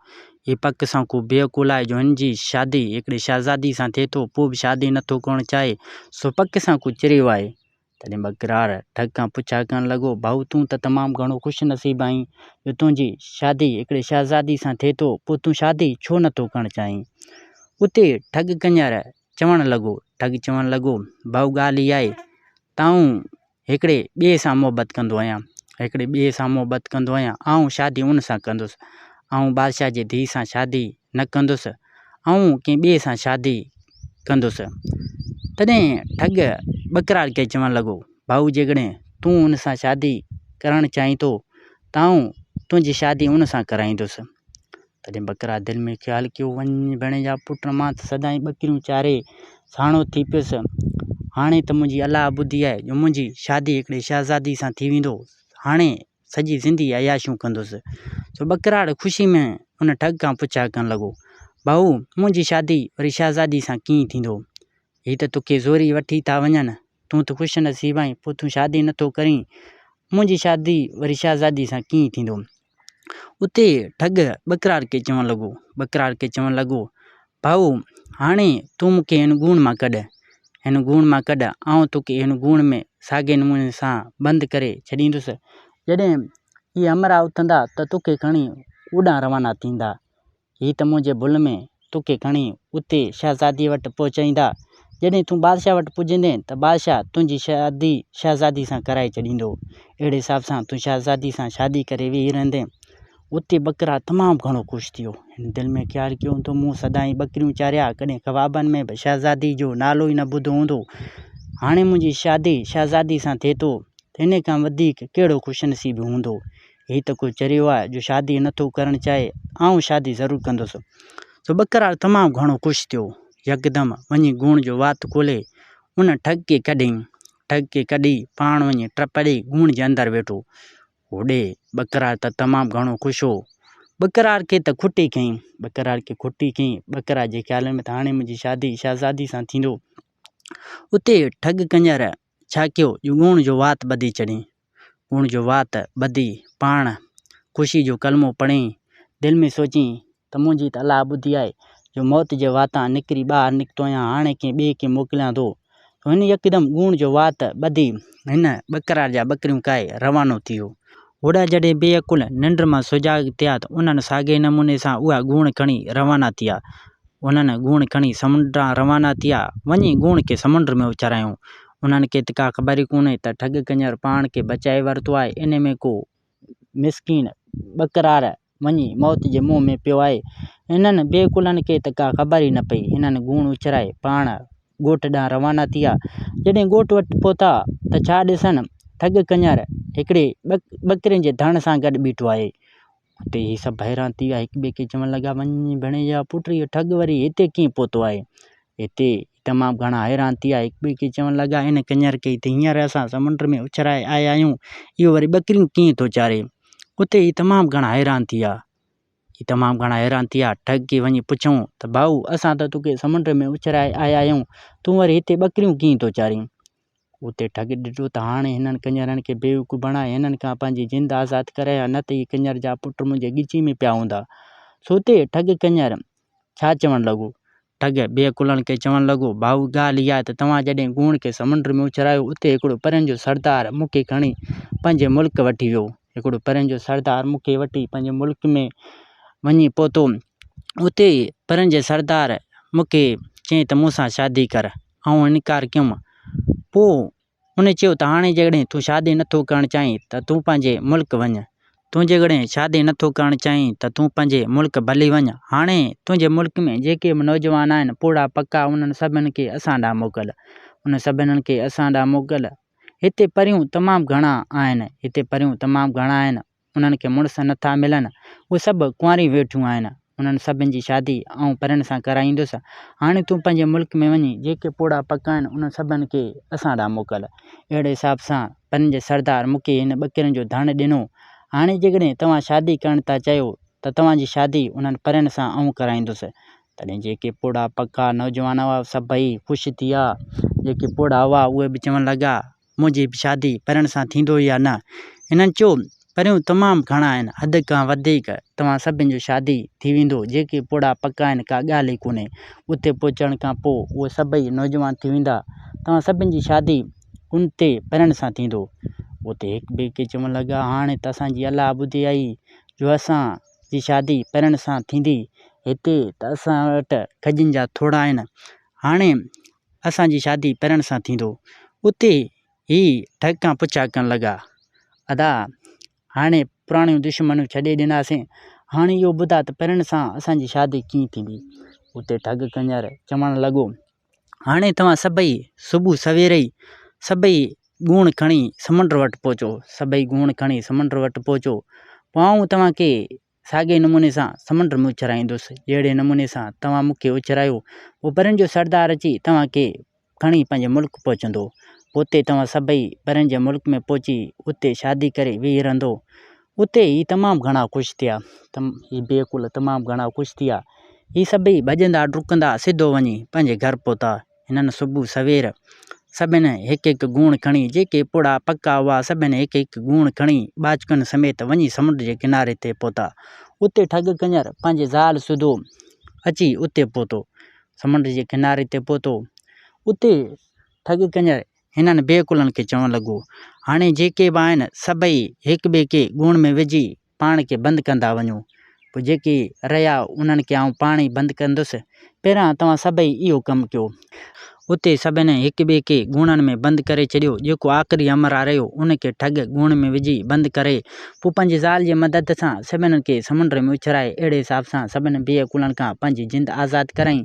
هي پڪ سان ڪو بي عقول آهي جو هن جي شادي هڪڙي شهزادي سان ٿئي ٿو، پوء به شادي نه ٿو ڪرڻ چاهي. سو پڪ سان ڪو چريو آهي. تڏهن ٻڪرار ڍڳ کان پڇا ڪرڻ لڳو، ڀائو تون ته تمام گهڻو خوش نصيب آهين جو تنهنجي شادي هڪڙي شهزادي سان ٿئي ٿو، پوء تون شادي ڇو نه ٿو ڪرڻ چاهين؟ اتي ڍڳ ڪڃر چوڻ لڳو، ڍڳ چوڻ لڳو، ڀائو ڳالهه اها آهي ته آئون هڪڙي ٻئي سان محبت ڪندو آهيان، هڪڙي ٻئي سان محبت ڪندو آهيان، آئون شادي ان سان ڪندس، آئون بادشاهه جي ڌيء سان شادي نه ڪندس، آئون ڪنهن ٻئي سان شادي ڪندس. تڏهن ٺڳ ٻڪرار کي چوڻ لڳو، ڀائو جيڪڏهن تون ان سان شادي ڪرائڻ چاهين ٿو ته آئون تنهنجي شادي ان سان ڪرائيندس. تڏهن ٻڪرار دل ۾ خيال ڪيو، وڃ ڀيڻ جا پٽ مان ته سدائين ٻڪريون چاري ساڻو ٿي پيس. هاڻي ته منهنجي الله ٻڌي آهي جو منهنجي شادي هڪڙي شهزادي سان ٿي ويندو. هاڻي سڄي زندگي عياشيون ڪندس. سو ٻڪراڙ خوشي ۾ ان ٺڳ کان پڇا ڪرڻ لڳو، ڀائو! منهنجي شادي وري شهزادي سان ڪيئن ٿيندو؟ هي ته توکي زوريء وٺي ٿا وڃن. تون ته خوش نصيب آهين، پوء تون شادي نه ٿو ڪرين. منهنجي شادي وري شهزادي سان ڪيئن ٿيندو؟ اتي ٺڳ ٻڪراڙ کي چوڻ لڳو، ٻڪراڙ کي چوڻ لڳو، ڀائو، هاڻي تون مون کي هن ڳوڻ مان ڪڍ، هن ڳوڻ مان ڪڍ، آئون توکي هن ڳوڻ ۾ ساڳئي نموني سان بند ڪري ڇڏيندس. جڏهن اهي همراهه اٿندا ته توکي کڻي اوڏانهن روانا ٿيندا. هي ته منهنجي ڀل ۾ توکي کڻي اتي شهزاديء وٽ پهچائيندا. جڏهن تون بادشاهه وٽ پڄندين ته بادشاهه تنهنجي شادي شهزاديء سان ڪرائي ڇڏيندو. اهڙي حساب سان تون شهزاديء سان شادي ڪري ويهي رهندين. اتي ٻڪرا تمام گهڻو خوش ٿيو. هن دل ۾ خيال ڪيو هوندو مون سدائين ٻڪريون چاريا ڪڏهن خوابن ۾ به شهزادي جو نالو ئي نه ٻڌو هوندو. هاڻي منهنجي شادي شهزادي سان ٿئي ٿو ته ان کان وڌيڪ ڪهڙو خوش نصيب هوندو. هي ته ڪو چريو آهي جو شادي نه ٿو ڪرڻ چاهي. آئون شادي ضرور ڪندس. سو ٻڪرا تمام گهڻو خوش ٿيو. يڪدم وڃي گوڻ جو وات کولي ان ٺڳ کي ڪڍيائين. ٺڳ کي ڪڍي پاڻ وڃي ٽپڙي گوڻ جي اندر ويٺو. هوڏي ٻڪرار ته تمام گهڻو خوش هو. ٻڪرار کي ته کٽي کنئين. ٻڪرار کي کٽي کنئين. ٻڪرار جي خيالن ۾ ته هاڻي منهنجي شادي شهزادي سان ٿيندو. اتي ٺڳ ڪڃر ڇا ڪيو جو ڳوڻ جو وات ٻڌي چڙهين. ڳوڻ جو وات ٻڌي پاڻ خوشي جو ڪلمو پڙهين. دل ۾ سوچين ته منهنجي ته الله ٻڌي آهي جو موت جي واتان نڪري ٻاهر نڪتو آهيان، هاڻي ڪنهن ٻئي کي موڪليان ٿو. سو هن يڪدم ڳوڻ جو وات ٻڌي هن ٻڪرار جا ٻڪريون ڪاهي روانو ٿي ويو. هوڏا جڏهن بي عقل ننڊ مان سجاڳ ٿيا ته انهن ساڳئي نموني سان اها ڳوڻ کڻي روانا ٿيا. انهن گوڻ کڻي سمنڊ ڏانهن روانا ٿيا. وڃي ڳوڻ کي سمنڊ ۾ اڇرايائون. انهن کي ته ڪا خبر ئي ڪونهي ته ٺڳ ڪڃر پاڻ کي بچائي ورتو آهي، انهي ۾ ڪو مسڪين ٻڪرار وڃي موت جي منهن ۾ پيو آهي. انهن بي ڪلن کي ته ڪا خبر ئي نه پئي. هنن گوڻ اڇلائي پاڻ ڳوٺ ڏانهن روانا ٿيا. جڏهن ڳوٺ وٽ پهتا ته ڇا ڏسن ٺڳ ڪڃر هڪڙي ٻڪرين جي ڌڻ سان گڏ بيٺو آهي. اتي هي سڀ حيران ٿي ويا. هڪٻئي کي چوڻ لڳا، وڃ ڀيڻيجا پٽ اهو ٺڳ وري هتي ڪيئن پهتو آهي. هتي تمام گهڻا حيران ٿي ويا. هڪٻئي کي چوڻ لڳا، هن ڪڃر ڪئي ته هينئر اسان سمنڊ ۾ اڇلائي آيا آهيون، اهو وري ٻڪريون ڪيئن ٿو چاري؟ اتي هي تمام گهڻا حيران ٿي ويا. هي تمام گهڻا حيران ٿي ويا. ٺڳ کي وڃي پڇيائون ته ڀائو! اسان ته توکي سمنڊ ۾ اڇلائي آيا آهيون، تون وري هتي ٻڪريون ڪيئن ٿو چارين؟ اتي ٺڳ ڏٺو ته هاڻي هنن ڪڃرن کي بيوقوف بڻائي هنن کان پنهنجي جند آزاد ڪرايو ها نه ته هي ڪڃر جا پٽ منهنجي ڳچي ۾ پيا هوندا. سو اتي ٺڳ ڪڃر ڇا چوڻ لڳو؟ ٺڳ بي عقلن کي چوڻ لڳو، ڀائو ڳالهه اها ته توهان جڏهن گوڻ کي سمنڊ ۾ اڇلايو اتي هڪڙو پرين جو سردار مون کي کڻي پنهنجي ملڪ وٺي ويو. هڪڙو پرين جو سردار مون کي وٺي پنهنجي ملڪ ۾ وڃي پهتو. اتي پرين جي سردار مون کي چيائين ته مون سان شادي ڪر. آئون انڪار ڪيم. پوء هن چيو ته هاڻي جيڪڏهن تون شادي نه ٿو ڪرڻ چاهين ته تون پنهنجي ملڪ وڃ. تون جيڪڏهن شادي نه ٿو ڪرڻ چاهين ته تون پنهنجي ملڪ ڀلي وڃ. هاڻي تنهنجي ملڪ ۾ جيڪي به نوجوان آهن، پوڙها پڪا، انهن سڀني کي اسان ڏانهن موڪل. انهن سڀني کي اسان ڏانهن موڪل. هتي پريون تمام گهڻا آهن. هتي پريون تمام گهڻا آهن. انهن کي مڙس نه ٿا ملن، اهي سڀ ڪنواريون ويٺيون آهن، انهن سڀن جي شادي آئون پرڻ سان ڪرائيندس، هاڻي تون پنهنجي ملڪ ۾ وڃي جيڪي پوڙها پڪا آهن، انهن سڀن کي اسان ڏانهن موڪل. اهڙي حساب سان پرين جي سردار مون کي هن ٻڪرين جو ڌڻ ڏنو، هاڻي جيڪڏهن توهان شادي ڪرڻ ٿا چاهيو ته توهان جي شادي انهن پرين سان آئون ڪرائيندس. تڏهن جيڪي پوڙها پڪا نوجوان هئا، سڀئي خوش ٿيا، جيڪي پوڙها هئا، اهي به چوڻ لڳا. منهنجي به شادي پرڻ سان ٿيندو يا نه؟ هنن چيو، پريون تمام گهڻا آهن، حد کان وڌيڪ توهان سڀن جو شادي ٿي ويندو، جيڪي پوڙها پڪا آهن ڪا ڳالهه ئي ڪونهي، اتي پهچڻ کان پوء اهي سڀئي نوجوان ٿي ويندا، توهان سڀن جي شادي ان تي پرڻ سان ٿيندو. اتي هڪ ٻئي کي چوڻ لڳا، هاڻي ته اسان جي الله ٻڌي آئي جو اسان جي شادي پرڻ سان ٿيندي، هتي ته اسان وٽ کجين جا ٿوڙها آهن، هاڻي اسان جي شادي پرڻ سان ٿيندو. اتي هي ٺڳڪان پڇا ڪرڻ لڳا، ادا هاڻي پراڻيون دشمنيون ڇڏي ڏناسين، هاڻي اهو ٻڌاء ته پرڻ سان اسان جي شادي ڪيئن ٿيندي؟ اتي ٺڳ ڪنڃر چوڻ لڳو، هاڻي توهان سڀئي صبح سوير ئي سڀئي ڳوڻ کڻي سمنڊ وٽ پهچو. سڀئي ڳوڻ کڻي سمنڊ وٽ پهچو. پوء آئون توهان کي ساڳئي نموني سان سمنڊ ۾ اڇرائيندس، جهڙي نموني سان توهان مون کي اڇرايو. پوء پرين جو سردار اچي توهان کي کڻي پنهنجي ملڪ پهچندو. پوء اتي توهان سڀئي پرين جي ملڪ ۾ پهچي اتي شادي ڪري ويهي رهندو. اتي هي تمام گهڻا خوش ٿيا. هي بي عقل تمام گهڻا خوش ٿيا. هي سڀئي ڀڄندا ڊڪندا سڌو وڃي پنهنجي گهر پهتا. هنن صبح سوير سڀني هڪ هڪ گوڻ کڻي، جيڪي پوڙها پڪا هئا، سڀني هڪ هڪ گوڻ کڻي، ٻاچڪن سميت وڃي سمنڊ جي ڪناري تي پهتا. اتي ٺڳ ڪڃر پنهنجي زال سوڌو اچي اتي پهتو. سمنڊ جي ڪناري تي پهتو. اتي ٺڳ ڪڃر هنن بي عقلن کي چوڻ لڳو، هاڻي جيڪي به آهن، سڀئي هڪٻئي کي گوڻ ۾ وجهي، پاڻ کي بند ڪندا وڃو، پوء جيڪي رهيا انهن کي آئون پاڻ ئي بند ڪندس، پهريان توهان سڀئي اهو ڪم ڪيو. اتي سڀني هڪ ٻئي کي ڳوڻن ۾ بند ڪري ڇڏيو، جيڪو آخري همراهه رهيو ان کي ٺڳ ڳوڻ ۾ وجهي بند ڪري، پوء پنهنجي زال جي مدد سان سڀني کي سمنڊ ۾ اڇلائي اهڙي حساب سان سڀني بي عقلن کان پنهنجي جند آزاد ڪرايائين،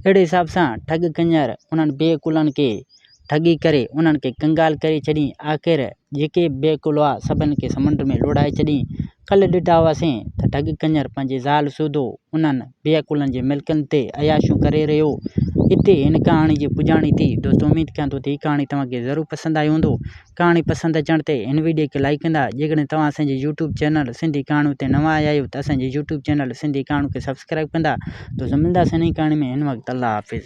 اهڙي حساب سان ٺڳ ڪڃر انهن بي عقلن کي ٺڳي ڪري انهن کي ڪنگال ڪري ڇڏين. آخر جيڪي بي عقل هئا سڀن کي سمنڊ ۾ لوڙهائي ڇڏين. ڪلهه ڏٺا هئاسين ته ٺڳ ڪڃر پنهنجي زال سوڌو انهن بي عقلن جي ملڪن تي عياشيون ڪري رهيو هو. هتي هن ڪهاڻي جي پڄاڻي ٿي. دوستو اميد ڪيان ٿو ته هي ڪهاڻي توهان کي ضرور پسند آئي هوندو. ڪهاڻي پسند اچڻ تي هن وڊيو کي لائيڪ ڪندا. جيڪڏهن توهان اسان جي يوٽيوب چينل سنڌي ڪهاڻيون تي نوان آيا آهيو ته اسان جي يوٽيوب چينل سنڌي ڪهاڻيون کي سبسڪرائيب ڪندا. دوستو ملنداسين نئين ڪهاڻي ۾ هن وقت الله حافظ.